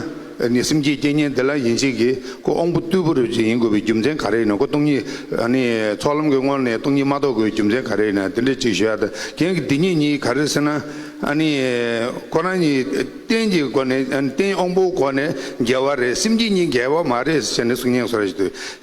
[SPEAKER 3] ནི་སེམས་ཀྱི་རྐྱེན་ངན་དེ་ལ་ཡིན་བྱེད་ཀྱི་ཀོ་ཨོང་པོ་རྟུལ་པོ་རེ་བཅས་ཡིན་དགོས་པའི་རྒྱུ་མཚན་ག་རེ་ཡིན་ནོ་ཀོ་སྟོང་ཉིད་ནི་ཚོགས་ལམ་གྱི་སྔོན་ནས་སྟོང་ཉིད་མ་རྟོགས་དགོས་པའི་རྒྱུ་མཚན་ག་རེ་ཡིན་ན་དེ་འདྲ་གཅིག་ཤོད་ཨ་ད་གན་གྱི་དེ་ཉིད་གཉིས་ག་རེ་ཟེར་ན་ནི་ཁོ་རང་གཉིས་རྟེན་གྱི་སྒོ་ནས་རྟེན་ཨོང་པོའི་སྒོ་ནས་འགལ་བ་རེད་སེམས་ཀྱི་གཉིས་འགལ་བ་མ་རེད་ཟེར་ནས་གསུང་སྙན་སོགས་རེ་ཞིག་དུ།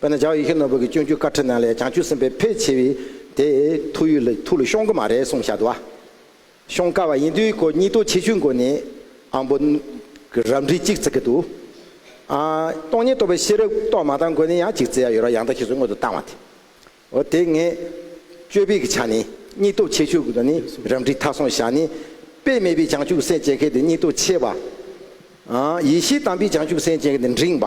[SPEAKER 2] དཔེར་ན་ཇའོ་ཡི་ཁེ་ནོར་བུ་གྱི་སྤྱོད་འཇུག་བཀའ་ཁྲིད་ནང་ལས་བྱང་ཆུབ་སེམས་དཔའི་ཕལ་ཆེ་བས་དེ་ཐུགས་ཡུལ་ལ་ཐུགས་ལ་ཤོང་གི་མ་རེད་གསུངས་བཞག་འདུག་ཤོང་དཀའ་བ་ཡིན་དུས་ཁོ་གཉིས་ལྟོ་འཕྱེ་ཆུའི་མགོ་ནས་ཨང་པོ་གི་རབ་འབྲི་གཅིག་བརྩི་གི་འདུག་སྟོང་ཉིད་རྟོགས་པའི་ཤེས་རབ་རྟོགས་མ་ཐག་མགོ་ནས་ཡང་གཅིག་བརྩི་ཡ་ཡོད་རོགས་ཡང་དག་ཤེས་སུ་མངོན་དུ་བཏང་བ་དེ་འོ་དེ་ངས་དཔྱོད་ཕིག་གི་ཆ་ནས་གཉིས་ལྟོ་འཕྱེ་ཆུའི་མགོ་ནས་རབ་འབྲི་མཐའ་སོང་བཞག་ནས་དཔེ་མེད་པའི་བྱང་ཆུབ་སེམས་བསྐྱེད་མཁན་དེ་གཉིས་ལྟོ་འཕྱེ་བ། ཡེ་ཤེས་དམ་པའི་བྱང་ཆུབ་སེམས་བསྐྱེད་མཁན་དེ་འབྲིང་བ།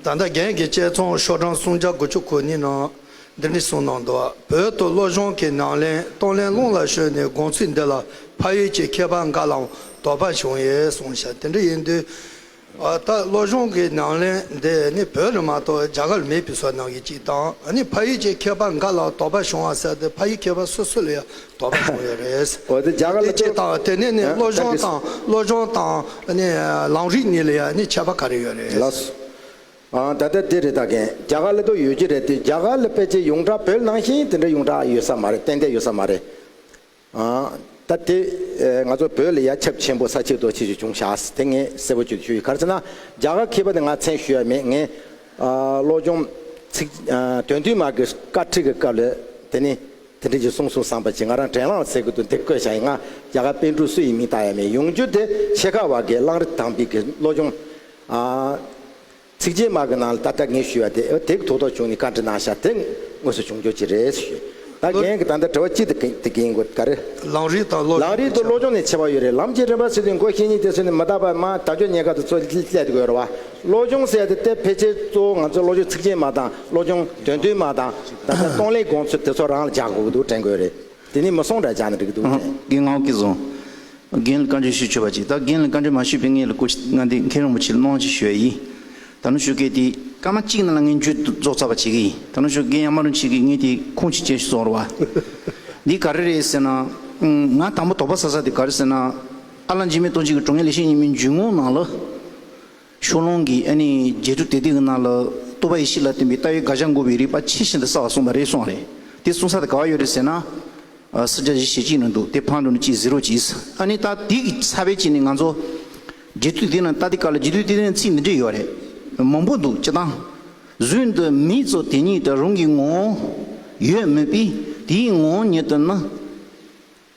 [SPEAKER 4] ད་ལྟ་རྒན་གྱི་དཔྱད་རྩོམ་ཤོག་གྲངས་སུམ་བརྒྱ་དགུ་བཅུ་གོ་གཉིས་ནང་
[SPEAKER 5] འདི་འདྲི་གསུངས་གནང་འདུག་བོད་དུ་བློ་སྦྱོང་གི་ནང་ལེན་གཏོང་ལེན་རླུང་ལ་ཞོན་ནས་དགོངས་ཚུལ་འདི་ལ་ཕ་ཡུལ་གྱི་མཁས་པ་འགའ་ལའང་དོགས་པ་བྱུང་ཡོད་གསུངས་ཤག་དེ་འདྲ་ཡིན་དུས། ད་ལྟ་བློ་སྦྱོང་གི་ནང་ལེན་འདི་ནི་བོད་ལ་མ་གཏོགས་རྒྱ་གར་ལ་མེད་པའི་སོ་ནམ་
[SPEAKER 2] གྱི་གཅིག་དང་ཕ་ཡུལ་གྱི་མཁས་པ་འགའ་ལའང་དོགས་པ་བྱུང་བ་གསལ་ཏེ་ཕ་ཡུལ་མཁས་པ་སོ་སོ་ལ་ཡང་དོགས་པ་བྱུང་ཡོད་རེད། དེ་ཇི་ལྟ་བ་དེ་ནས་ནི་བློ་སྦྱོང་དང་བློ་
[SPEAKER 5] སྦྱོང་དང་ནི་ལམ་རིགས་གཉིས་ལ་ཡང་ནི་ཁྱད་པ་ག་རེ་ཡོད་རེད། ལགས་སོ། ཨང་ད་ལྟ་འདི་རེད་ད་གིན་རྒྱ་གར་ལ་དུ་ཡོད་ཀྱི་རེད་དེ་རྒྱ་གར་ལ་ཕལ་ཆེར་ཡོངས་གྲགས་བོད་ནང་བཞིན་དེ་འདྲ་ཡོངས་གྲགས་ཡོད་ས་མ་རེད་ཏན་ཏན་ཡོད་ས་མ་རེད། ཨང་
[SPEAKER 2] ད་དེ་ང་ཚོ་བོད་ལ་ཡ་ཁྱབ་ཆེན་པོ་ས་ཆིག་རྡོ་ཆིག་ཅིག་བྱུང་ཤགས་དེ་ངས་གསལ་པོ་བརྗོད་ཞུ་ཡི་གར་ཚེ་ན་རྒྱ་གར་མཁས་པ་དེ་ང་མཚན་ཞུ་ཡ་མེད་ངས་བློ་སྦྱོང་ཚིག་དོན་བསྟུད་མར་གྱི་བཀའ་ཁྲིགས་ཀྱི་སྐབས་ལ་དེ་ནི། དེ་འབྲེལ་གྱི་གསུང་གསུང་བསམ་པ་གྱིས་ང་རང་དྲན་བླངས་ཟེར་གི་འདུག་འདིར་བཀོད་བྱ་ཡི་ང་རྒྱ་གར་པེན་ཀྲུག་སུ་ཡི་མིང་བཏགས་ཡ་མེད་ཡོང་རྒྱུ་དེ་ཆེ་ཁག་བར་གྱི་གླང་རི་དྭངས་པིག་གི་བློ་སྦྱོང།
[SPEAKER 5] ཚིགས་བཅད་མ་གི་ནང་ལ་ད་ལྟ་ངས་ཞུས་བ་དེ་དེ་གི་ཐུགས་དོགས་བྱུང་ནས་བཀའ་འདྲི་གནང་ཤག་དེ་དངོས་སུ་བྱུང་རྒྱུ་གཅིག་རེད་ཞུས། ད་རྒན་གྱི་ད་ལྟ་དྲི་བ་གཅིག་དེ་གི་དེ་གི་ཡིན་དགོས་ག་རེ། གླང་རི་དང་བློ་གླང་སྦྱོང་རི་ནས་དང་ཆེ་བ་བློ་སྦྱོང་ནས་ཆེ་བ་ཡོད་རེད་ལམ་གྱི་རིམ་པ་ཚུལ་དུ་མགོ་ཤེས་ཉིན་དེ་ཚུལ་ནས་མི་ད་པར་མ་ད་ཆོས་ཉེས་ཁ་དུ་
[SPEAKER 2] ཚོད་སླེད་དགོས་རེད་བ་བློ་སྦྱོང་ཟེར་ཡ་དེ་དེ་ཕལ་ཆེར་གཙོ་བོ་ང་ཚོ་བློ་སྦྱོང་ཚིགས་བཅད་མ་དང་བློ་སྦྱོང་དོན་བསྡུས་མ་དང་ད་ལྟ་སྟོང་ལས་དགོངས་ཚུལ་དེ་ཚོ་རང་ལ་བྱ་དགོས་འདུག་དྲན་དགོས་རེད། དེ་ནས་མི་སོང་འདྲ་བྱ་ན་འགྲིག་འདུག་དྲན། རྒན་ངག་གིས་བཟང། རྒན་ལ་བཀའ་འདྲི་ཞུ་ཆོག་པ་ཅིག་ད་
[SPEAKER 4] རྒན་ལ་བཀའ་འདྲི་མ་ཞུས་པའི་ངེད་ལ་སྐུ་ཚེ་ལྔ་འདི་མཁན་རིན་པོ་ཆེ་ལ་གནང་ཅིག་ཞུ་ཡ་ཡིན། ད་ནུ་ཞོ་སྐད་དེ། སྐར་མ་གཅིག་ནང་ལ་ངེད་ཇུས་རྫོགས་ཚར་བ་བྱེད་གི་ཡིན་ད་ནུ་ཞོ་རྒན་ཡང་མ་རུ་མཆིས་གི་ངེད་དེ་ཁུངས་ཅིག་ཅན་ཞིག་བཟོ་རོགས་བ། འདི་ག་རེ་རེད་ཟེར་ན། ང་དང་པོ་དོགས་པ་ཟ་ས་དེ་ག་རེ་ཟེར་ན། ཨ་ལ་འཇིགས་མེད་ལྟོ་འཇིགས་ཀྱི་དྲུང་ངེད་ལས་ཤེས་ཉི་མའི་འཇུག་ངོགས་ནང་ལ། ཤོག་ལོང་གིས་ཨ་ནི་རྗེ་བྲུ་དེ་དེ་གི་ནང་ལ་ཏུ་པ་ཡི་ཤི་ལ་བརྟེན་པའི་རྟ་ཡི་དགག་བྱ་འགོ་བའི་རིགས་པ་ཕྱི་བཞིན་དུ་བསགས་ལ་གསུངས་པ་རེད་གསུངས་བ་རེད་དེ་གསུངས་ས་དེ་ག་བ་ཡོད་རེད་ཟེར་ན། སུ་རྒྱ་བཞི་ཞེ་གཅིག་ནི་འདུག་དེ་ཕང་འགྲོ་ནི་གཅིག་ཟིརོ་གཅིག་ཨིས་ཨ་ནི་རྟ་དེ་གི་ས་བེད་ཅིག་ནི་ང་ཚོ། རྗེ་བྲུ་དེ་ནི་རྟ་དེ་ག་ལ་རྗེ་བྲུ་དེ་དེ་ནི་ཚིག་འདི་འདྲས་ཡོད་རེད། མང་པོ་འདུག་སྤྱི་དང། གཟུད་འདི་མི་ཚོ་དེ་ཉིད་དུ་རུང་གི་ངོ། ཡོད་མོད་པི་དེ་ཡི་ངོ་ཉིད་དུ་ནི།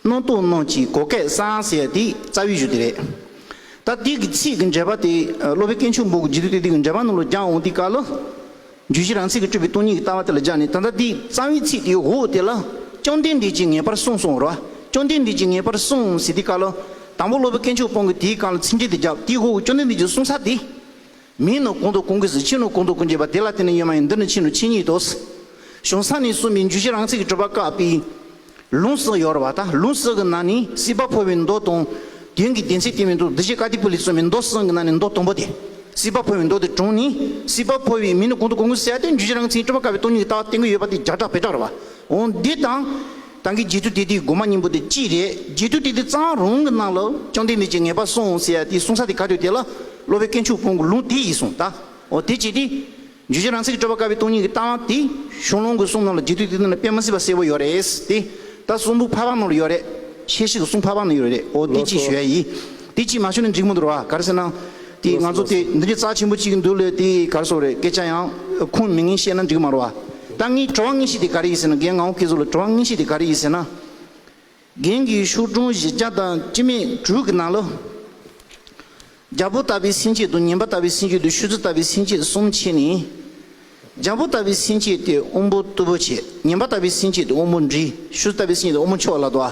[SPEAKER 4] སྣང་སྟོང་སྣང་གི་གོ་སྐལ་བཟང་ཟེར་དེ་རྩ་བའི་གཞུ་དེ་རེད། ད་དེ་གི་ཚིག་གི་འགྲེལ་པ་དེ་སློབ་པའི་སྐད་མཆོག་འབུག་གི་ལྗིད་དུ་དེ་དེ་གི་འགྲེལ་པ་རྣམས་ལ་སྦྱང་འོང་དེ་ག་ལ། རྒྱུད་བཞི་རང་ཚིག་གི་སྤྲོས་པའི་སྟོང་ཉིད་ཀྱི་ལྟ་བ་དེ་ལ་སྦྱངས་ནས་ད་ལྟ་དེའི་རྩ་བའི་ཚིག་དེའི་འོག་དེ་ལ། བཅོམ་ལྡན་འདས་ཀྱིས་ངེས་པར་གསུངས་གསུང་རོ། བཅོམ་ལྡན་འདས་ཀྱིས་ངེས་པར་གསུངས་ཟེར་དེ་ག་ལ། དང་པོ་སློབ་པའི་སྐད་མཆོག་སྤོང་གི་དེའི་གང་ལ་ཚིག་འགྲེལ་དེ་བརྒྱབ་དེའི་འོག་གི་བཅོམ་ལྡན་འདས་ཀྱིས་གསུངས་ས་དེ། མིང་ནི་གུང་དོ་གུང་གིས་ཕྱིན་ནོ་གུང་དོ་ཀུན་བྱེད་པ་དེ་ལ་དེ་ནི་ཡོད་མ་ཡིན་འདི་ནི་ཕྱིན་ནོ་ཕྱིན་ཉིད་དོ། གཞུང་ས་ནི་གསུམ་པའི་འཇུ་བྱེད་རང་ཚིག་གི་སྤྲོས་པ་བཀག་པས། ལུང་སྲོག་ཡོར་བ་དང་ལུང་སྲོག་གི་ནང་ནི་སྲིད་པ་འཕོ་བའི་མདོ་དང། དོན་གྱི་བདེན་ཚིག་དེ་མིན་དུ་བདུད་བྱེད་ཀ་ཏི་པུ་ལི་གསུམ་པའི་མདོ་གསུམ་གྱི་ནང་ནི་མདོ་དང་པོ་སྟེ། སྲིད་པ་འཕོ་བའི་མདོ་དེ་དྲུང་ནི་སྲིད་པ་འཕོ་བའི་མིང་ནི་གུང་དོ་གུང་གིས་བསལ་ཏེ་འཇུ་བྱེད་རང་ཚིག་གི་སྤྲོས་པ་བཀག་པའི་སྟོང་ཉིད་ཀྱི་ལྟ་བ་བསྟན་དགོས་ཡོད་པ་དེ་སྦྱར་གྲགས་བེད་གྲགས་རེད་བ། འོན་ཏེ་དང། ཏང་གི་རྗེས་སུ་དེད་དེའི་སྒོ་མ་སྙིང་པོ་དེ་ཅི་རེད་རྗེས་སུ་དེད་དེ་གཙང་རོང་གི་ནང་ལ་ཅང་དེ་མེད་ཅིག་ངེས་པར་སོང་ཟེར་ཡ་དེའི་གསུང་ས་དེ་ག་དུས་དེ་ལ་སློབ་བའི་སྐད་མཆུ་ཕུང་གི་ལུང་དེ་ཡིས་སོང་ད་འོ་དེ་བྱས་དེ་འཇུ་བྱེད་རང་ཚིག་གི་སྤྲོ་བ་དཀར་བའི་སྟོང་ཉིད་ཀྱི་ལྟ་བ་དེ་གཞུང་ལུང་གི་གསུང་རྣམས་ལ་རྗེས་སྡུད་དེ་དོན་ལ་དཔེ་མ་སྲིད་པ་གསལ་བོ་ཡོད་རེད་དེ་ད་གསུང་འབུག་ཕ་བང་ནང་ལ་ཡོད་རེད་ཤེས་ཤིག་གསུང་ཕ་བང་ནང་ཡོད་རེད་འོ་དེ་ཅི་ཞུ་ཡ་ཡིས། དེ་ཅིས་མ་ཞུ་ནས་འཇིགས་མོ་འདོར་བ་གར་ཟེར་ན། དེས་ང་ཚོ་དེ་འདི་འདྲའི་རྩ་ཆེན་པོ་གཅིག་འདུག་ལས་དེ་གར་བཟོ་རེད་སྐད་ཆ་ཡང་ཁུངས་མེད་ངན་བཤད་ན་འགྲིག་མ་རུ་བ། ད་ངས་བྲོ་བ་ངན་བཤད་དེ་ག་རེ་ཡིན་ཟེར་ན་རྒན་ངའོ་སྐད་གཟུགས་ལ་བྲོ་བ་ངན་བཤད་དེ་ག་རེ་ཡིན་ཟེར་ན། རྒན་གྱི་ཤུགས་དྲུང་བཞི་བརྒྱ་དང་སྤྱི་མེད་དྲུག་གི་ནང་ལོ། རྒྱ་བོ་ལྟ་བུའི་སེམས་བསྐྱེད་དུ་ངན་པ་ལྟ་བུའི་སེམས་བསྐྱེད་དུ་ཤུལ་རྫི་ལྟ་བུའི་སེམས་བསྐྱེད་གསུམ་བྱས་ནས། རྒྱ་བོ་ལྟ་བུའི་སེམས་བསྐྱེད་དེ་དབུ་འབོ་རྟུལ་པོ་བྱེད་ངན་པ་ལྟ་བུའི་སེམས་བསྐྱེད་དེ་དབུ་འབོ་འབྲི་ཤུལ་རྫི་ལྟ་བུའི་སེམས་བསྐྱེད་དེ་དབུ་འབོ་མཆོག་ལ་དོ་བ།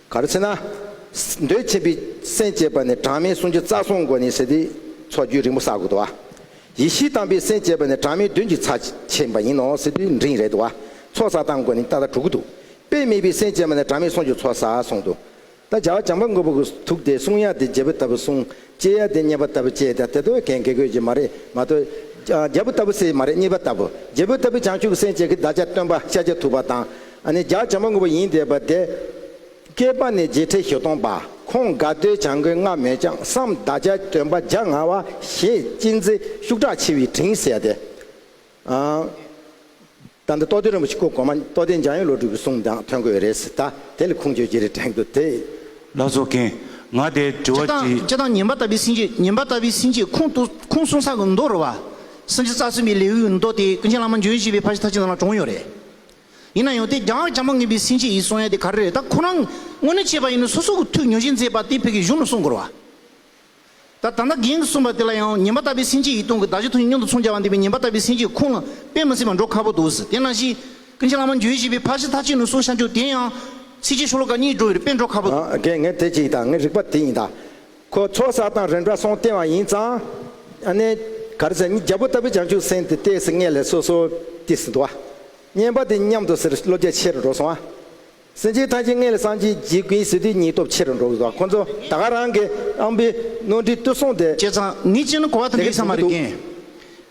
[SPEAKER 2] ག་རེ་ཚེ་ན། འདོད་ཆེན་པའི་སེམས་བསྐྱེད་པ་ནི་གྲངས་མེད་གསུང་རྒྱུན་རྩ་གསུམ་གོ་ནི་ཟེར་ཏེ། ཚོགས་རྒྱུན་རིང་པོ་བསགས་དགོས་དོ། ཡེ་ཤེས་དམ་པའི་སེམས་བསྐྱེད་པ་ནི་གྲངས་མེད་བདུན་གྱི་ཚ་ཆེན་པ་ཡིན་ནོ་ཟེར་ཏེ་འབྲིང་རེད་དོ། ཚོགས་བསགས་སྟངས་གོ་ནི་ཏག་ཏག་དྲུག་གོ་འདུག་དཔེ་མེད་པའི་སེམས་བསྐྱེད་པ་ནི་གྲངས་མེད་གསུང་རྒྱུན་ཚོགས་བསགས་གསུང་དུ། ད་བྱ་བ་བྱང་པ་མགོན་པོ་གི་ཐུགས་ཏེ་གསུང་དབྱངས་དེ་རྒྱལ་པོ་ལྟ་བུ་གསུང་ལྕེ་ཡ་དེ་རྙེད་པ་ལྟ་བུ་ལྕེ་དེ་ལྟ་བུ་གན་དགེ་དགོས་ཀྱི་མ་རེད་མ་གཏོགས། རྒྱལ་པོ་ལྟ་བུ་སྲས་མ་རེད་གཉིས་པ་ལྟ་བུ་རྒྱལ་པོ་ལྟ་བུ་བྱང་ཆུབ་སེམས་བསྐྱེད་ཀྱི་བདག་ཅག་སྟོན་པ་ཤཱཀྱ་ཐུབ་པ་དང། ནི་བརྒྱ་བྱིན་མ་དངོས་པོ་ཡིན་འདས་པ་དེ། བསྐལ་པ་ནི་བརྒྱད་ཁྲི་བཞི་སྟོང་པ་ཁོང་དགའ་བདེའི་བྱང་གི་སྔ་མོའི་ལྕང་སྲམ་བདག་ཅག་སྟོན་པ་བརྒྱ་ང་བ་ཞེས་ཅི་མཛེས་ཤུགས་དྲག་ཆེ་བའི་དྲིན་བསལ་ཏེ། ད་ལྟ་རྟོགས་ལྡན་རིན་པོ་ཆེ་སྐུ་གོང་མ་རྟོགས་ལྡན་འཇམ་དབྱངས་བློ་གྲོས་ཀྱི་གསུང་དང་མཐུན་དགོས་རེད་ཟེར་ད་དེ་ལ་ཁུངས་བཅོལ་གྱི་རེ་དྲན་གྱི་འདུག་དེ། བླ་རྫོགས་མཁན།
[SPEAKER 6] ང་དེ་དྲི་བ་དེ། སྤྱི་དང་ཉན་པ་ལྟ་བུའི་སེམས་
[SPEAKER 4] ཀྱིས་ཉན་པ་ལྟ་བུའི་སེམས་ཀྱིས་ཁུངས་ཏུ་ཁུངས་གསུང་ས་གི་མདོ་རུ་བ། སེམས་ཀྱི་རྩ་གསུམ་པའི་ལེའུ་ཡི་མདོ་དེ་ཀུན་མཁྱེན་བླ་མ་འཇོན་བཞི་པའི་ཕ་ཞིག་ཐ་ཆད་ནང་ལ་དྲོངས་ཡོད་རེད། ཡིན་ན་ཡང་དེ་རྒྱ་ཡང་མ་ངེས་པའི་སེམས་ཀྱིས་ཡིད་གསུང་ཡ་དེ་ག་རེ་རེད་ད་ཁོ་རང་དངོས་གནས་བྱས་པ་ཡིན་ན་སོ་སོ་གི་ཐུགས་ཉོན་ཞེན་མཛད་པ་དེ་བོད་ཀྱི་གཞུང་ལ་གསུང་དགོས་ར་བ། ད་ད་ནག་གིང་གི་གསུངས་པ་དེ་ལ་ཡང་ཉན་པ་ལྟ་བུའི་སེམས་ཅན་ཡིད་གཏོང་གི་བདག་ཅག་ཐུགས་ཀྱི་སྙོམས་དུ་ཚོང་བྱ་བ་འདི་བས་ཉན་པ་ལྟ་བུའི་སེམས་ཅན་ཁོང་ལ་དཔེ་མི་སྲིད་པར་འགྲོ་ཁག་པོ་འདུག་དེས་ན་གཞི། ཀུན་མཁྱེན་བླ་མ་འགྱོད་བཞི་པའི་ཕ་གཞི་ཐ་ཆད་ནུས་གསུངས་ཤར་འཇུག་དེ་ཡང། ཚིགས་བཅད་ཤོ་ལོ་ཀ་གཉིས་འགྲོ་བའི་རིགས་པས་འགྲོ་ཁག་པོ་འདུག། དགེ་བསྔལ་དེ་གཅིག་དང་
[SPEAKER 2] ངའི་རིག་པ་དེ་ཡིན་ད། ཁོ་ཚོགས་བསགས་དང་རིམ་གྲ་སོང་བསྟན་བ་ཡིན་ཙང། ནས། གར་ཟེར་མི་རྒྱ་བོ་ལྟ་བུའི་བྱང་ཆུབ་སེམས་དེ་ལྟས་སུ་ངེས་ལས་སོ་སོ་དེ་སྲིད་དུ་བ། བསྙེན་པ་དེ་མཉམ་དུ་ཟེར་བློ་རྒྱ་ཆེ་རུ་འགྲོ་སོང་བ། སེམས་ཅན་ཐམས་ཅད་མངལ་གསང་སྐྱེ་འཇིག་ཀུན་གཟིར་དེ་ཉིད་སྟོབས་ཆེར་འགྲོ་བས་བ་ཁོ་ཚོ་ད་ག་རང་གི་ཨམ་བི་རྣོ་འདི་ཏུ་སོང་སྟེ། བྱས་ཙང་ངེད་ཅག་ནི་གོ་
[SPEAKER 4] བ་དམ་པའི་ས་མ་རེད་ཀྱིན།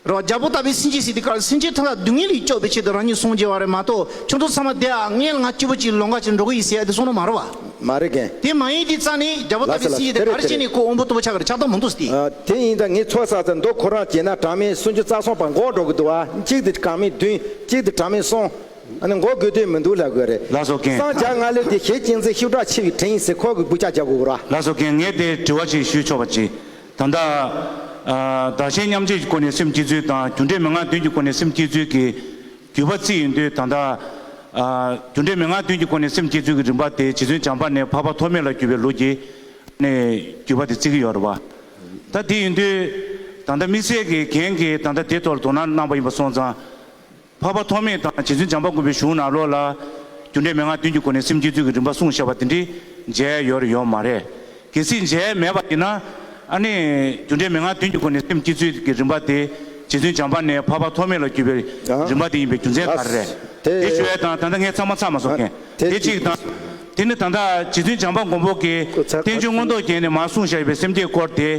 [SPEAKER 4] རོ་རྒྱ་པོ་ལྟ་བུའི་སེམས་ཅན་སྲིད་དེ་གར་སེམས་ཅན་ཐམས་ལ་སྡུག་བསྔལ་ལས་སྐྱོབ་པའི་ཆེད་དུ་རང་ཉིད་སོང་སྐྱེ་བ་རེད་མ་གཏོགས་ཁྱོད་ཚོ་ཚང་མ་དེའང་མངལ་ང་སྐྱིད་པོ་ཅིག་ལོང་ག་ཅིག་འགྲོ་གི་ཡིན་ཟེར་ཡ་དེ་སོང་ན་མ་རེད་བ། མ་རེད་ཀྱིན། དེ་མ་
[SPEAKER 2] ཡིན་དེ་ཙང་ནི་
[SPEAKER 4] རྒྱ་པོ་ལྟ་བུའི་སེམས་ཅན་དེ་གར་སྐྱེས་ནས་ཁོ་འོམ་བུ་ལྟ་བུ་ཆགས་ཀྱི་ཆགས་སྟངས་མང་འདུག་སྟེ། དེ་ཡིན་ད་ངས་ཚོགས་
[SPEAKER 2] བསགས་ཚེ་མདོ་ཁོ་རང་བྱས་ན་གྲངས་མེད་སུམ་ཅུ་རྩ་གསུམ་བར་འགོག་འགྲོ་གི་འདུག་བ་གཅིག་དེ་གྲངས་མེད་བདུན་གཅིག་དེ་གྲངས་མེད་གསུམ། ཨ་ནི་འགོག་དགོས་དོན་མི་འདུག་ལ་དགོས་རེད། ལགས་སོ་རྒན། སངས་རྒྱ་སྔགས་
[SPEAKER 6] ལས་དེ་ཞེས་
[SPEAKER 2] ཅིང་ཚེ་ཤུགས་དྲག་ཆེ་བའི་དྲིན་ཡིན་ཟེར་ཁོག་གི་སྦུ་ཅག་རྒྱག་དགོས་ར། ལགས་སོ་རྒན་ངས་དེ་དྲི་
[SPEAKER 6] བ་ཞིག་ཞུས་ཆོག་པ་ཅི། ད་ལྟ། བདག་གཞན་མཉམ་བརྗེ་ཀྱི་སྐོར་ནས་སེམས་སྐྱིད་ཚུལ་དང་རྒྱུ་འབྲས་མི་མངའ་དོན་གྱི་སྐོར་ནས་སེམས་སྐྱིད་ཚུལ་གྱི། བརྒྱུད་པ་རྩིས་ཡིན་དུས་ད་ལྟ། རྒྱུ་འབྲས་མི་མངའ་དོན་གྱི་སྐོར་ནས་སེམས་སྐྱིད་ཚུལ་གྱི་རིམ་པ་དེ་བྱིས་ཚུན་བྱམས་པ་ནས་འཕགས་པ་ཐོགས་མེད་ལ་བརྒྱུད་པའི་ལུགས་ཀྱིས། ནས་བརྒྱུད་པ་དེ་རྩིས་ཀྱི་ཡོད་རེད་བ། ད་དེ་ཡིན་དུས། ད་ལྟ་དམིགས་བསལ་གྱིས་རྒན་གྱིས་ད་ལྟ་དེ་ཐོག་ལ་དོ་སྣང་གནང་པ་ཡིན་པ་སོང་ཙང། འཕགས་པ་ཐོགས་མེད་དང་རྗེ་བཙུན་འཇམ་པ་མགོན་པོའི་གཞུང་ནང་ལོགས་ལ། རྒྱུ་འབྲས་མན་ངག་བདུན་གྱི་སྒོ་ནས་སེམས་བསྐྱེད་ཚུལ་གྱི་རིམ་པ་གསུངས་བཞག་པ་དེ་འདྲི་མཇལ་ཡོར་ཡོད་མ་རེད། གལ་སྲིད་མཇལ་མེད་པ་ཡིན་ན། ཨ་ནི། རྒྱུ་འབྲས་མན་ངག་བདུན་གྱི་སྒོ་ནས་སེམས་བསྐྱེད་ཚུལ་གྱི་རིམ་པ་དེ། རྗེ་བཙུན་འཇམ་པ་ནས་འཕགས་པ་ཐོགས་མེད་ལ་བརྒྱུད་པའི་རིམ་པ་དེ་ཡིན་པའི་རྒྱུ་མཚན་ག་རེ་རེད། དེ་ཞུ་བའི་དང་ད་ལྟ་ངས་ཚང་མ་ཚགས་མ་བཟོ་མཁན་དེ་གཅིག་དང། དེ་ནི་ད་ལྟ་རྗེ་བཙུན་འཇམ་པ་མགོན་པོ་གིས་བསྟན་བཅོས་མངོན་རྟོགས་རྒྱན་ནས་མར་གསུངས་བཞག་ཡོད་པའི་སེམས་བསྐྱེད་སྐོར་དེ།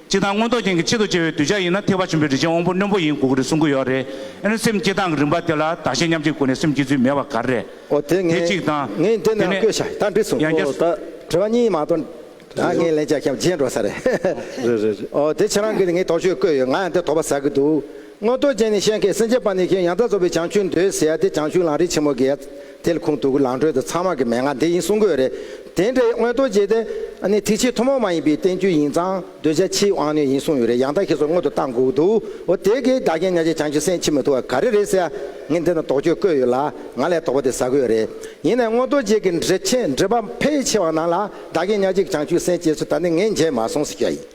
[SPEAKER 6] སྐྱེ་སྟངས་མངོན་རྟོགས་ཅན་གྱི་ཆེད་དུ་སྐྱེ་བའི་གདུལ་བྱ་ཡིན་ན་ཐེག་པ་ཆེན་པོའི་རིན་ཆེན་དབང་པོ་རྣོན་པོ་ཡིན་དགོས་ཀྱི་རེད་གསུང་གི་ཡོད་རེད་ཨེ་ན་སེམས་སྐྱེ་སྟངས་ཀྱི་རིམ་པ་དེ་ལ་བདག་གཞན་མཉམ་བརྗེའི་སྒོ་ནས་སེམས་སྐྱེ་ཚུལ་མེད་པ་ག་རེ་རེད་ཨོ་དེ་ངས་དེ་གཅིག་དང། ངས་འདི་ནས་དེ་ཡང་བཀོད་
[SPEAKER 2] ཤག་ནས་ད་འདྲི་སོང་ཡང་བསྐྱར། ད་དྲི་བ་གཉིས་མ་གཏོགས་ད་ངས་ལན་བརྒྱ་ཤམ་བརྗེད་འགྲོ་ས་རེད། རེད་རེད་རེད་ཨོ་དེ་ཁྱེད་རང་གིས་ངའི་དོགས་གཅོད་བཀོད་ཡོད་ང་ཡང་དེ་དོགས་པ་ཟ་གི་འདུག་མངོན་རྟོགས་ཅན་ནི་ཤེས་མཁས་སེམས་བསྐྱེད་པ་ནི་ཤིང་ཡང་རྩ་གཙོ་བོའི་བྱང་ཆུབ་མདོའི་ཟེ་ཡ་སྟེ་བྱང་ཆུབ་ལང་རིས་ཆེན་མོ་དགེ་ཡ། དེལ་ཁུང་དུག་གི་ལང་ཁྲོལ་དུ་ཚངས་མ་གི་མན་ངག་འདི་ཡིན་གསུང་དགོས་རེད། དེ་འདྲའི་མངོན་རྟོགས་ཅན་དེ། ནི་ཐིག་ཕྱིའི་ཐུན་མོང་མ་ཡིན་པའི་བསྟན་བཅོས་ཡིན་ཙང་གདུལ་བྱ་ཕྱིའི་དབང་རྣོན་ཡིན་གསུང་ཡོད་རེད་ཡང་དག་ཤེས་སོགས་མངོན་དུ་བཏང་དགོས་ཀྱི་འདུག་འོ་དེ་གའི་བདག་རྐྱེན་ཉག་ཅིག་བྱང་ཆུབ་སེམས་མཆིས་མི་ཐུབ་བ་ག་རེ་རེད་ཟེར་ཡ། ངས་འདི་ན་དོགས་དཔྱོད་བཀོད་ཡོད་ལ་ང་ལས་དོགས་པ་དེ་ཟ་དགོས་རེད། ཡིན་ནའི་མངོན་རྟོགས་ཅན་གྱི་འབྲེལ་ཆེན་འབྲེལ་པ་ཕལ་ཆེ་བ་ནང་ལ་བདག་རྐྱེན་ཉག་ཅིག་བྱང་ཆུབ་སེམས་བསྐྱེད་ཚུལ་ད་ནི་ངས་མཇལ་མ་སོང་ཟེར་གྱི་ཡ་ཡིན།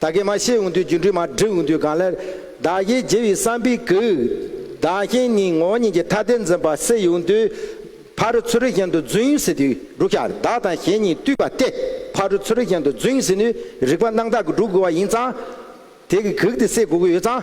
[SPEAKER 2] ད་གེ་མ་བཤད་འོང་དུས་སྒྱུ་འཕྲུལ་མ་བསྒྲིགས་འོང་དུས་གང་སླད། བདག་གཞན་བརྗེ་བའི་བསམ་པས་གུས། བདག་གཞན་གཉིས་ངོ་གཉིས་ཀྱི་ཐ་དད་འཛིན་པ་སེལ་ཡོང་དུས། ཕ་རུ་ཚུ་རུ་གཞན་དུ་རྫུན་ཟེར་དུས་འབྲུག་ཤ་བདག་དང་གཞན་གཉིས་བཏུས་པ་སྟེ། ཕ་རུ་ཚུ་རུ་གཞན་དུ་རྫུན་ཟེར་ནུས་རིག་པ་སྣང་དག་གིས་བསྒྲུབ་དགོས་པ་ཡིན་ཙང། དེ་གིས་གུག་དེ་སེལ་དགོས་ཀྱི་ཡོད་ཙང།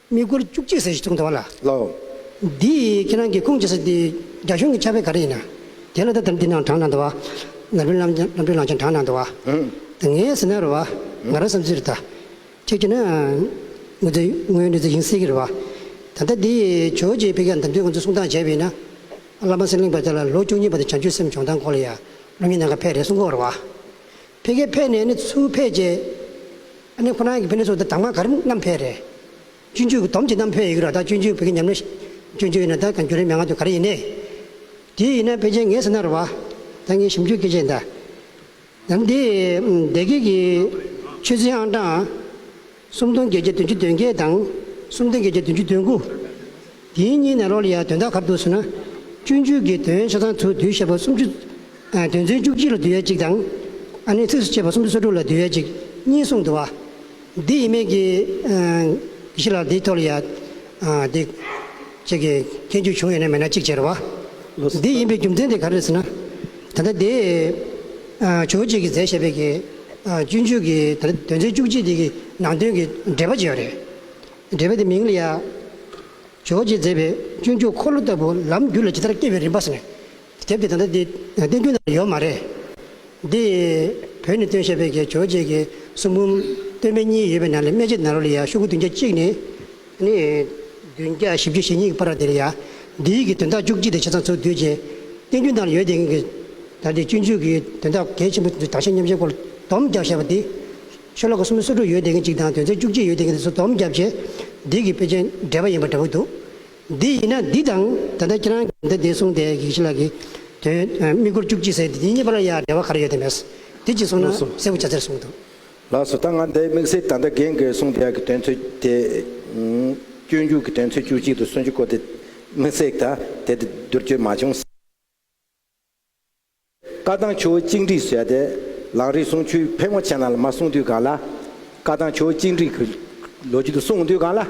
[SPEAKER 7] དམིགས་སྐོར་བཅུ་གཅིག་ཟེར་ཞེས་གསུངས་འདུག་བ་ལ། འདི་ཡིས་ཁྱེད་རང་གི་ཁུངས་སྐྱེལ་ས་དེ་རྒྱ་གཞུང་གི་ཆ་བེད་ག་རེ་ཡིན་ན། དེ་ལ་ད་ལྟ་འདི་ནང་གྲངས་གནང་འདུག་བ། ནར་བུན་ལམ་ལམ་སྤྲུལ་ལང་ཆེན་གྲངས་གནང་འདུག་བ། ངའི་ཟེར་ན་རེད་བ། ང་རང་བསམ་ཚུལ་རེད་ད། ཁྱེད་ཀྱིས་ན། ངོ་ཚའི་ངོས་འདི་ཚོ་ཡིན་སྲིད་གི་རེད་བ། ད་ལྟ་འདི་ཡི་ཇོ་ཇེ་ཕེ་ཁ་འདམ་དུས་ང་ཚོས་གསུང་སྟངས་བྱས་བས་ན། བླ་མ་སེང་གླིང་བ་དེ་ལ་ལོ་བཅུ་གཉིས་པ་དེ་བྱང་ཆུ་སེམས་བྱུང་སྟངས་སྐོར་ལ་ཡང་སློབ་གཉེར་གནང་ཁ་ཕེ་རེ་གསུང་གོ་རེད་བ། ཕེ་ཁས་ཕེ་ནས་ནི་ཚུར་ཕེ་བྱས། ཨ་ནེ་ཁོ་ན་གི་ཕན་ནུས་སོགས་དང་མ་ག་རིམ་རྣམ་འཕེལ་རེད། སྤྱོད་འཇུག་གི་དོམ་གྱི་རྣམ་འཕེལ་ཡི་གེ་རོ་དང་སྤྱོད་འཇུག་བོད་ཀྱི་ཉམས་ལེན། སྤྱོད་འཇུག་ཡི་ན་ད་གང་འགྱུར་རེ་མན་ང་དུ་ག་རེ་ཡི་ནས། དེའི་ཡི་ན་པེ་ཅན་ངེས་ཟེར་ན་རོ་བ། ད་ངས་ཞིབ་འཇུག་སྐད་ཆས་འདའ། ཡང་འདི། སྡེ་དགེ་གི། ཆོས་ཚན་ཨང་གྲངས། སུམ་སྟོང་བརྒྱད་བརྒྱ་བདུན་ཅུ་དོན་བརྒྱད་དང། སུམ་སྟོང་བརྒྱད་བརྒྱ་བདུན་ཅུ་དོན་དགུ། དེའི་སྙིང་ནས་རོ་ལི་ཡ་དོན་དག་གར་འདུག་ཟེར་ན། བཅུ་མཇུག་གི་དོན་ཆ་ཚང་དུ་དུས་ཞེས་པ་སུམ་ཅུ། དོན་ཚན་བཅུ་གཅིག་ལ་དུས་ཡས་གཅིག་དང། ཨ་ནི་ཚིགས་སུ་བཅད་པ་སུམ་ཅུ་སོ་དྲུག་ལ་དུས་ཡས་གཅིག་གཉིས་གསུངས་འདུག་བ། འདི་ཡིན་མིན་གྱི། གཞི་ལ་འདི་ཐོ་ལི་ཡ། འདི། བཅས་ཀྱི་མཁན་རྒྱུད་བྱུང་ཡོད་ན་མེད་ན་གཅིག་བྱས་རེད་བ། འདི་ཡིན་པའི་རྒྱུ་མཚན་དེ་ག་རེད་ཟེར་ན། ད་ལྟ་འདི། བྱུང་གཅིག་གི་རྫས་བཤད་པའི་གི། བཅུ་མཇུག་གི་ད་ལྟ་དོན་ཚན་བཅུ་གཅིག་འདི་གི་ནང་དོན་གྱི་འགྲེལ་པ་བྱས་ཡོད་རེད། འགྲེལ་པ་འདི་མིང་ལ་ཡང། རྗོ་རྗེས་མཛད་པའི་སྤྱོད་འཇུག་འཁོར་ལོ་ལྟ་བུ་ལམ་རྒྱུད་ལ་ཇི་ལྟར་སྐྱེ་བའི་རིམ་པ་ཟེར། དེབ་འདི་ད་ལྟ་འདི་བསྟན་རྒྱུན་ན་ཡོད་མ་རེད། འདི་བོད་ནས་བཏོན་ཤེས་པའི་གེ་རྗོ་རྗེས་ཀྱི་གསུང་འབུམ་སྟོད་སྨད་གཉིས་ཡོད་པའི་ནང་ལས་སྨད་ཕྱི་ནང་རོ་ལ་ཡང་ཤོ་གུ་བདུན་བརྒྱ་གཅིག་ནི། ནི། བདུན་བརྒྱ་བཞི་བཅུ་ཞེ་གཉིས་ཀྱི་བར་ར་དེ་ལ་ཡང། འདི་ཡིག་གི་དོན་དག་བཅུ་གཅིག་དང་ཕྱི་ཚང་ཚུར་བསྡུས་རྗེས། བསྟན་རྒྱུན་ནང་ལ་ཡོད་དེ་གིན་གྱི། ད་ལྟའི་སྤྱོད་འཇུག་གི་དོན་དག་གལ་ཆེན་པོ་དང་ཆེས་ཉམས་ཆེན་སྐོར་ལ་བསྡོམས་རྒྱག་བྱས་པ་འདི། ཆོས་ལོ་གོ་སུམ་སོ་དྲུག་ཡོལ་འདེབས་མཁན་གཅིག་དང་དོན་ཚན་བཅུ་གཅིག་ཡོལ་འདེབས་མཁན་གཉིས་སུ་དོམ་བརྒྱབ་རྗེས། འདི་གི་དཔེ་ཆ་འདྲ་པ་ཡིན་པ་འདྲ་པོ་འདུག་འདི་ཡིན་ན་འདི་དང་ད་ལྟ་ཁྱེད་རང་གིས་འདི་བདེན་གསུངས་དེ་གིས་ཤི་ལ་གི། དོན་དམིགས་སྐོར་བཅུ་གཅིག་ཟེར་དེ་གཉིས་གཉིས་པ་ལ་ཡང་འབྲེལ་བ་ག་རེ་ཡོད་དེ་མེད། འདི་གཅིག་གསུངས་ན་གསལ་བོ་ཆ་ཚེར་གསུངས་འདུག། ལགས་སོ་ད་ང་
[SPEAKER 2] འདི་དམིགས་བསལ་ད་ལྟ་རྒན་གིས་གསུངས་དེ་གི་དོན་ཚོད་དེ། སྤྱོད་འཇུག་གི་དོན་ཚོད་བཅུ་གཅིག་དང་སུན་ཅུ་སྐོར་དེ་དམིགས་བསལ་ད་དེ་དེ་བསྡུར་བཅོས་མ་བྱུང། བཀའ་ཐང་ཆུ་བོ་གཅིག་འགྲིག་བྱས་ཏེ། ལག་རིག་སྲུང་ཆུའི་ཕལ་མོ་ཆེ་ནང་ལ་མ་སྲུང་དུས་གང་ལ། བཀའ་ཐང་ཆུ་བོ་གཅིག་འགྲིག་གི་ལོ་རྒྱུས་དུ་སྲུང་དུས་གང་ལ།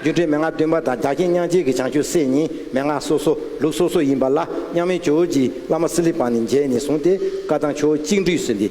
[SPEAKER 2] རྒྱུ་འབྲས་མན་ངག་བདུན་པ་དང་རྒྱ་ཁྱིམ་དབྱངས་ཅན་གྱི་བྱང་ཆུབ་སེམས་གཉིས་མན་ངག་སོ་སོ་ལུགས་སོ་སོ་ཡིན་པ་ལ་མཉམ་མེད་ཇོ་བོ་རྗེའི་བླ་མ་སི་ལི་པང་ནས་མཇལ་ནས་བཟུང་སྟེ་བཀའ་ཐང་ཆུ་བོ་གཅིག་འགྲིག་ཟེར་ཏེ།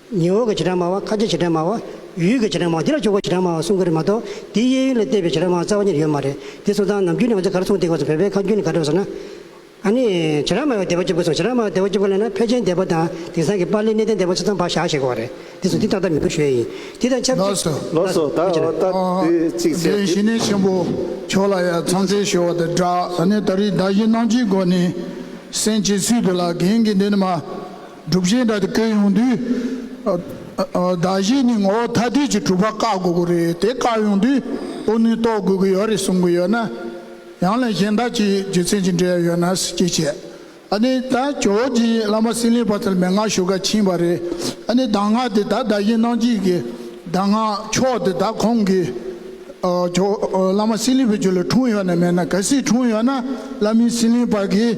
[SPEAKER 7] ཉི་འོག་གི་བྱེ་བྲག་སྨྲ་བ་ཁ་ཆེའི་བྱེ་བྲག་སྨྲ་བ། ཡུལ་གྱི་བྱེ་བྲག་སྨྲ་བ་འདི་ལ་ཆོས་སྐོར་བྱེ་བྲག་སྨྲ་བ་གསུམ་ཀ་རེད་མ་གཏོགས་འདིའི་གཡས་གཡོན་ལ་བལྟས་པའི་བྱེ་བྲག་སྨྲ་བ་རྩ་བ་ཉིད་ཡོད་མ་རེད་དེ་སོང་ཙང་ནམ་རྒྱུན་ནས་ང་ཚོས་ག་རེ་གསུངས་དེ་གོ་སོང་བོད་པའི་ཁ་རྒྱུན་ནི་ག་རེད་ཟེར་ན། ཨ་ནི། བྱེ་བྲག་སྨྲ་བའི་བདེ་བ་སྐྱིབས་ཀ་སོང་བྱེ་བྲག་སྨྲ་བའི་བདེ་བ་སྐྱིབས་ཀ་ལས་ན་ཕལ་ཆེན་བདེ་བ་དང་དེང་སང་གི་པར་ལས་གནས་བརྟན་བདེ་བ་ཆ་ཚང་བག་ཞག་ཞེས་གོ་བ་རེད་དེ་སོང་འདི་ཏག་ཏག་མི་དགོས་ཞེས་ཡིན་དེ་དང་ཆབས་ཅིག། ལོགས་སུ་ད་འོ་ད་
[SPEAKER 1] དེ་གཅིག་བྱས་དེ། ཞི་གནས་ཆེན་པོ་
[SPEAKER 8] མཆོག་ལ་ཡང་ཚང་ཚིང་ཞུ་བ་དང་སྦྲགས། ད་ནི་ད་རིས་བདག་གཞན་སྣང་བཅུའི་སྒོ་ནས། སེམས་ཀྱི་ཚུལ་དུ་ལ་གིང་གིས་འདི་ནི་མ། སྒྲུབ་གཞི་འདྲ་དེ་བཀོད་ཡོང་དུས། བདག་གཞན་གཉིས་ངོ་བོ་ཐ་དད་ཀྱི་གྲུབ་པ་བཀག་དགོས་ཀྱི་རེད་དེ་བཀག་ཡོང་དུས་ཕོ་ནུས་རྟོགས་དགོས་ཀྱི་ཡོད་རེད་གསུང་གི་ཡོད་ན། ཡང་ལས་གཞན་དག་གིས་རྒྱུ་མཚན་ཅི་འདྲའི་ཡོད་ན་ཅི་བྱེད། ཨ་ནི་ད་ཇོ་བོ་རྗེ་ཡིས་བླ་མ་སྲིན་ལེགས་པ་ཚལ་མེད་སྔགས་ཞུ་ཁ་ཕྱིན་པ་རེད། ཨ་ནི་གདམས་ངག་དེ་དག་བདག་གཞན་སྣང་བྱེད་ཀྱི་གདམས་ངག་ཕྱོགས་དེ་དག་ཁོང་གིས་ཇོ་བོ་བླ་མ་སྲིན་ལེགས་པའི་རྒྱུད་ལ་འཁྲུངས་ཡོད་ནི་མེད་ན་གལ་སྲིད་འཁྲུངས་ཡོད་ན་བླ་མའི་སྲིན་ལེགས་པ་གིས།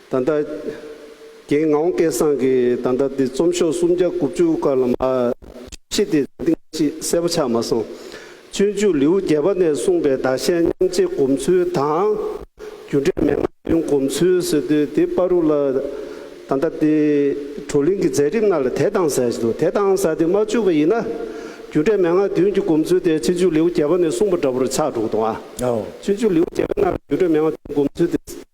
[SPEAKER 1] ད་ལྟ། རྒན་ངའོ་སྐལ་བཟང་གིས་ད་ལྟ་འདི་རྩོམ་ཤོག་སུམ་བརྒྱ་དགུ་བཅུ་དཀར་ལམ་ཨ། ཤེས་དེ་རེ་ཏིང་ཅིག་གསལ་པོ་ཆགས་མ་སོང། སྤྱོད་འཇུག་ལེའུ་བརྒྱད་པ་ནས་གསུངས་པའི་བདག་གཞན་མཉམ་བརྗེ་སྒོམ་ཚུལ་དང། རྒྱུ་འབྲས་མན་ངག་རྒྱུན་བསྒོམ་ཚུལ་སོད་དུས་དེ་དཔའ་རུ་ལ། ད་ལྟ་འདི། བགྲོ་གླེང་གི་མཛད་རིམ་ནང་ལ་དེ་དང་ཟེར་གྱི་འདུག་དེ་དང་ཟེར་དེ་མ་བཅུག་པ་ཡིན་ན། རྒྱུ་འབྲས་མན་ངག་རྒྱུན་གྱི་སྒོམ་ཚུལ་དེ་སྤྱོད་འཇུག་ལེའུ་བརྒྱད་པ་ནས་གསུངས་པ་འདྲ་པོར་ཆགས་འདུག་དང། སྤྱོད་འཇུག་ལེའུ་བརྒྱད་པའི་ནང་ལ་རྒྱུ་འབྲས་མན་ངག་རྒྱུན་སྒོམ་ཚུལ་དེ།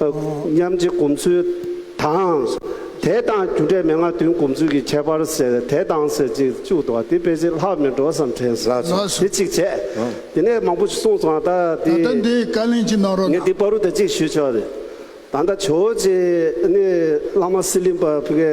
[SPEAKER 1] མཉམ་རྗེ་གོམས་ཚུལ་དང། དད་དང་རྒྱུ་འབྲས་མན་ངག་བདུན་གོམས་ཚུལ་གྱི་ཁྱད་པར་ཟེར་དད་དང་ཟེར་ཅིག་བཅུ་དང་དེ་དཔེ་ཆའི་ལྷག་མེད་འགྲོ་བསམ་དྲན་སོ་དེ་གཅིག་བྱས། དེ་ནས་མང་པོ་གསུངས་སོང་ད་ད་ལྟ་འདི་འདི་བཀའ་ལན་གཅིག་གནང་
[SPEAKER 8] རོགས་ངས་གནང། འདི་པར་རུ་དེ་གཅིག་ཞུས་
[SPEAKER 1] ཆོག་རེད་ད་ད་ཆོས་རྗེ་ནི་བླ་མ་སི་ལིང་པ་ཕི་ཀའི།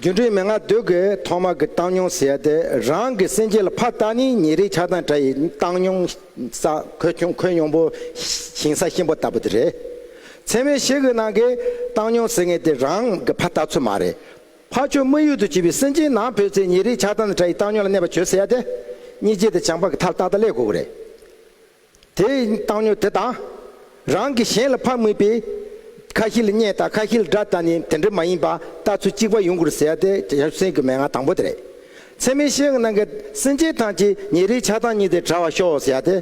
[SPEAKER 2] སྒྱུ་འཕྲུལ་མན་ངག་བདུད་དགེ་ཐོག་མ་གི་བཏང་སྙོམས་ཟད་དེ་རང་གི་སེམས་ཅན་ལ་ཕ་རྟགས་ནི་ཉེ་རིགས་ཆགས་སྡང་དགྲ་ཡི་བཏང་སྙོམས་ས་ཁོད་ཁྱུང་ཁོད་གཡོང་པོ་ཞིང་ས་གཤིན་པོ་ལྟ་བུ་དེ་རེད། ཚད་མའི་གཞི་གི་ནང་གི་བཏང་སྙོམས་ཟེར་ངེས་དེ་རང་གི་ཕ་རྟགས་ཚུལ་མ་རེད། ཕ་ཆོས་དམིགས་ཡུལ་དུ་བྱས་པའི་སེམས་ཅན་ནང་བུད་ཚེ་ཉེ་རིགས་ཆགས་སྡང་དང་དགྲ་ཡི་བཏང་སྙོམས་ལ་གནས་པ་ཆོས་ཟད་དེ། གཉིས་རྗེ་དང་བྱང་འཕགས་ཀྱི་མཐར་རྟགས་དང་ལས་གོ་གི་རེད། དེ་ཡི་བཏང་སྙོམས་དེ་དང། རང་གིས་གཞན་ལ་ཕངས་མིན་པའི། ཁ་ཧི་ལ་བརྙས་དང་ཁ་ཧི་ལ་དགྲ་དང་ནི་དེ་འདྲ་མ་ཡིན་པ་ལྟ་ཚུལ་གཅིག་པ་ཡོང་དགོས་ཟེར་ཡ་དེ་ཡབ་སྲས་ཀྱི་མན་ངག་དང་པོ་དེ་རེད། ཚད་མའི་ཤེས་ཡོན་གནང་མཁན་སེམས་ཅན་ཐམས་ཅད་ཉིན་རེའི་ཆགས་སྡང་གཉིས་དེ་བྲལ་བར་ཤོག་ཟེར་ཡ་དེ།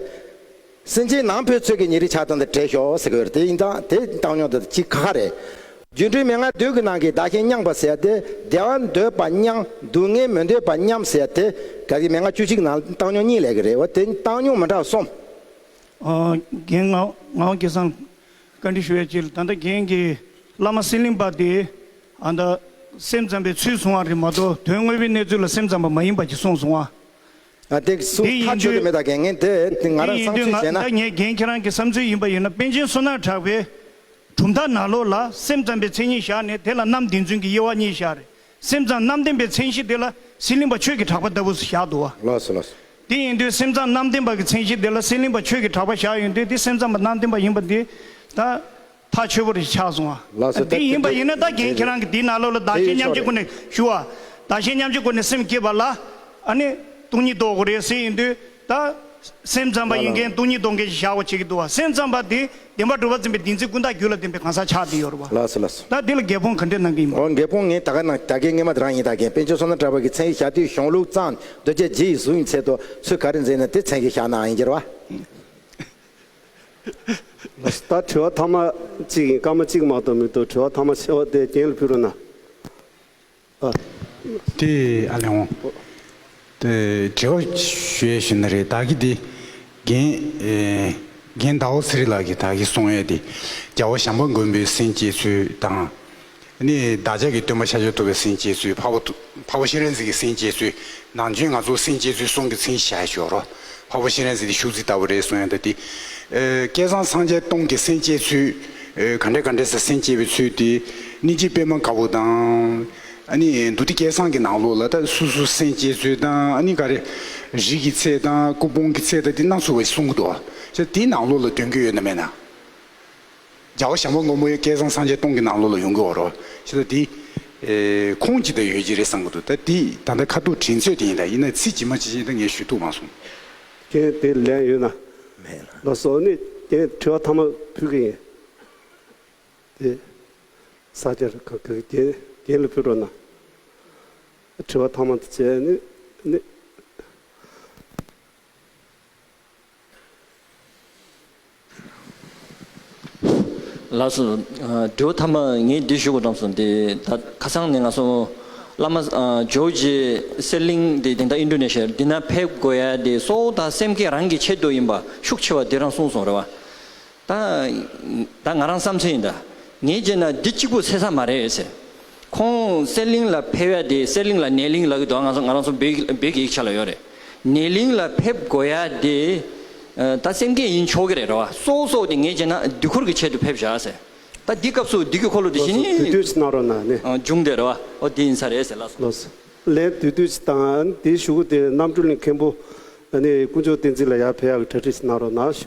[SPEAKER 2] སེམས་ཅན་ནང་ཕོའི་ཚོད་ཀྱི་ཉིན་རེའི་ཆགས་སྡང་དེ་བྲལ་ཤོག་ཟེར་གི་ཡོད་རེད་དེ་ཡིན་དང་དེ་བཏང་སྙོམས་དེ་གཅིག་ཁ་ཁ་རེད། སྒྱུ་འཕྲུལ་མན་ངག་མདོས་ཀྱི་ནང་གི་བདག་གཞན་མཉམ་པར་ཟད་དེ་བདེ་བ་འདོད་པ་མཉམ་སྡུག་བསྔལ་མི་འདོད་པ་མཉམ་ཟད་དེ། གལ་ཏེ་མན་ངག་བཅུ་གཅིག་ནང་བཏང་སྙོམས་གཉིས་ལས་ཀྱི་རེད་བ་དེ་བཏང་སྙོམས་མི་འདྲ་བ་གསུམ། རྒན་
[SPEAKER 9] ངག་དགེ་བཟང། བཀའ་འདྲི་ཞུ་བའི་ཕྱིར་ད་ལྟ་རྒན་གྱིས་བླ་མ་སེང་གླིང་པ་དེས་ཨ་མདའ་སེམས་ཙམ་པའི་ཚུལ་བཟུང་བ་རེད་མ་གཏོགས་དོན་དངོས་པོའི་གནས་ཚུལ་ལ་སེམས་ཙམ་པ་མ་ཡིན་པ་གྱི་གསུངས་སོང་བ། འདི་
[SPEAKER 2] ཡིན་དུས་ང་རང་བསམ་ཚུལ་བྱས་ན། ཁྱེད་རང་གི་བསམ་
[SPEAKER 9] ཚུལ་ཡིན་པ་ཡིན་ན་པན་ཆེན་བསོད་ནམས་གྲགས་པའི་གྲུབ་མཐའ་ནག་ལོ་ལ་སེམས་ཙམ་པའི་མཚན་ཉིད་བཞག་ནས་དེ་ལ་རྣམ་བདེན་རྫུན་གྱི་དབྱེ་བ་གཉིས་བཞག་རེད་སེམས་ཙམ་རྣམ་བདེན་པའི་མཚན་གཞི་དེ་ལ་སྲིད་གླིང་པ་ཆོས་ཀྱི་གྲགས་པ་ལྟ་བུ་བཞག་འདུག་བ། དེ་
[SPEAKER 2] ཡིན་དུས་
[SPEAKER 9] སེམས་ཙམ་རྣམ་བདེན་པ་གྱི་མཚན་གཞི་དེ་ལ་སྲིད་གླིང་པ་ཆོས་ཀྱི་གྲགས་པ་བཞག་ཡོད་དུས་དེ་སེམས་ཙམ་པ་རྣམ་བདེན་པ་ཡིན་པ་འདི་ད། ཐག་ཆོད་པོ་རེ་ཆགས་སོང་བ། དེ་ཡིན་པ་ཡིན་ན་ད་རྒན་ཁྱེད་རང་གི་དེའི་ནང་ལོགས་ལ་བདག་གཞན་མཉམ་བརྗེ་དགོས་ནས་ཞུ་བ། བདག་གཞན་མཉམ་བརྗེ་དགོས་ནས་སེམས་བསྐྱེད་པ་ལ། ཨ་ནི། སྟོང་ཉིད་ལྡོག་གོ་རེད་ཟེར་ཡིན་དུས་ད། སེམས་ཙམ་པ་ཡིན་མཁན་སྟོང་ཉིད་ལྡོག་མཁན་ཞེས་བྱ་བ་བྱེད་ཀྱི་འདུག་བ་སེམས་ཙམ་པ་དེ་བདེན་པ་གྲུབ་པ་འཛིན་པའི་བདེན་ཚིག་ཀུན་བཏགས་རྒྱུད་ལ་བདེན་པའི་གང་ཟག་ཆགས་བསྡད་ཡོད་རེད་བ། ད་དེ་ལ་འགལ་
[SPEAKER 2] སྤོང་ག་འདྲས་
[SPEAKER 9] གནང་གི་ཡིན་པ། འོ་འགལ་སྤོང་ངས་ད་ག་
[SPEAKER 2] ནང་ད་གའི་རྔན་མ་དེ་རང་ཡིན་ད་རྒན་དཔལ་ཆོས་བསོད་ནམས་གྲགས་པ་གི་མཚན་གྱི་ཞག་དུས་གཞུང་ལུགས་གཙང་སྒྲོལ་རྒྱལ་རྗེ་ཡི་གཟུགས་ཡིན་ཚད་དུ་ཚུལ་ག་རེ་འཛིན་ནས་དེ་མཚན་གྱི་ཞག་ནའང་ཡིན་གྱི་རེད་བ།
[SPEAKER 1] ད་དྲི་བ་ཐ་མ་གཅིག་ཡིན་སྐར་མ་གཅིག་མ་གཏོགས་མི་འདུག་དྲི་བ་ཐ་མ་ཆེ་བ་དེ་རྒན་ལ་ཕུལ་རོགས་གནང།
[SPEAKER 10] དེ་ཨ་ལེ་འོང། དེ་དྲི་བ་ཞུ་ཡས་ཞུ་ན་རེད་ད་གི་དེ་རྒན། རྒན་ཟླ་བོ་ཚེ་རིང་ལགས་ཀྱིས་ད་གི་གསུང་ཡས་དེ་རྒྱལ་བ་ཞང་པ་མགོན་པོའི་སེང་གེ་ཚུལ་དང། ནི་བདག་ཅག་གི་སྟོན་པ་ཤཱཀྱ་ཐུབ་པའི་སེམས་བསྐྱེད་ཚུལ་འཕགས་པ་འཕགས་པ་ཤཱི་རན་ཟིག་གི་སེམས་བསྐྱེད་ཚུལ་ནང་བྱོན་ང་ཚོ་སེམས་བསྐྱེད་ཚུལ་གསུང་གི་མཚན་ཞལ་ཞོར་རོ། འཕགས་པ་ཤཱི་རན་ཟིག་གི་བཞུགས་ཚིག་ལྟ་བུ་རེ་གསུང་ཡང་དག་འདི། སྐལ་བཟང་སངས་རྒྱས་སྟོང་གི་སེམས་བསྐྱེད་ཚུལ། ག་འདྲས་ག་འདྲས་སུ་སེམས་བསྐྱེད་པའི་ཚུལ་འདི། གནས་འཇིག་པད་མ་དཀར་པོ་དང། ནི་འདུ་སྡེ་སྐལ་བཟང་གི་ནང་ལོགས་ལ་དང་སུ་སུ་སེམས་བསྐྱེད་ཚུལ་དང་ནི་ག་རེ། རིགས་ཀྱི་ཚད་དང་སྐུ་སྤུངས་ཀྱི་ཚད་དང་འདི་སྣ་ཚོགས་པའི་གསུང་གི་འདུག་བ། ཅི་དེའི་ནང་ལོགས་ལ་དོན་གྱི་ཡོད་ན་མེད་ན། རྒྱལ་བ་ཞང་པོ་མགོན་པོ་ཡང་སྐལ་བཟང་སངས་རྒྱས་སྟོང་གི་ནང་ལོགས་ལ་ཡོང་གི་འོ་རོག་ཞེས་ད་དེ། ཁོང་ཅིག་ད་ཡོད་ཀྱི་རེད་བསམ་གྱི་འདུག་ད་དེ་ད་ལྟ་ཁ་ཐུག་དྲིན་ཚོད་དེ་ཡིན་ད་ཡིན་ན་ཚིག་ཇི་མ་ཇི་བཞིན་ད་ངས་ཞུས་ཐུག་མ་སོང། རྐྱེན་དེ་
[SPEAKER 1] ལན་ཡོད་ན། མེད་ལ། ལོ་སོ་ནི་རྐྱེན་དྲི་བ་ཐ་མ་ཕུལ་གི་ཡིན། དེ། ས་སྐྱ་རི་ཁ་གི་རྐྱེན་རྐྱེན་ལ་ཕུལ་འགྲོ་ན། དྲི་བ་ཐ་མ་དེ་བྱས་ནི་ནི།
[SPEAKER 11] ལགས་སོ། འབྲས་བུ་ཐ་མ་ངས་འདི་ཞུ་དགོས་བྲམ་སོང་འདི་ད་ཁ་སང་ནས་ང་སོང། བླ་མ། ཇོ་བོ་རྗེ། གསེར་གླིང་འདི་དེང་ད་ཨིན་ཏྲོ་ནེ་ཤཱི་འདི་ན་ཕེབས་དགོས་ཡ་འདི་སོགས་ད་སེམས་ཁེ་རང་གི་ཆེད་དུ་ཡིན་པ་ཤུགས་ཆེ་བ་འདི་རང་གསུངས་སོང་རེད་བ། ད་ང་རང་བསམ་ཚུལ་ཡིན་དཱ། ངས་བརྗོད་ན་འདི་གཅིག་པུ་ཟེར་ས་མ་རེད་ཟེར། ཁོང་གསེར་གླིང་ལ་ཕེབས་ཡ་དེ་གསེར་གླིང་ལ་ནས་གླིང་ལག་གི་འདུག་ང་ང་རང་ཚོ་བོད་ཀྱི་ཡིག་ཆ་ལ་ཡོད་རེད། ནས་གླིང་ལ་ཕེབས་དགོས་ཡ་དེ། ད་སེམས་སྐྱེད་ཡིན་ཆོག་གི་རེད་རེད་བ། སོ་སོགས་དེ་ངས་བརྗོད་ན་དུས་འཁོར་གྱི་ཆེད་དུ་ཕེབས་བཞག་ཟེར། ད་འདི་སྐབས་སུ་འདི་གི་འཁོར་ལོ་དེ་བཞིན་ནི། ལོ་སོ་དུས་དུས་ནག་རོ་ན།
[SPEAKER 1] འབྱུང་དེ་རེད་བ། ཨོ་
[SPEAKER 11] དེ་ཡིན་ས་རེད་ཟེར་ལ་སོང། ལོ་སོ་ལན་
[SPEAKER 1] དུས་དུས་དང་དེ་བཞུགས་དེ་རྣམ་གྲོལ་མཁན་པོ། ནས་དཀོན་མཆོག་བསྟན་འཛིན་ལ་ཡར་ཕེབས་ཡ་གི་གྲ་ཁྲིས་ནག་རོ་ན་བཞུགས།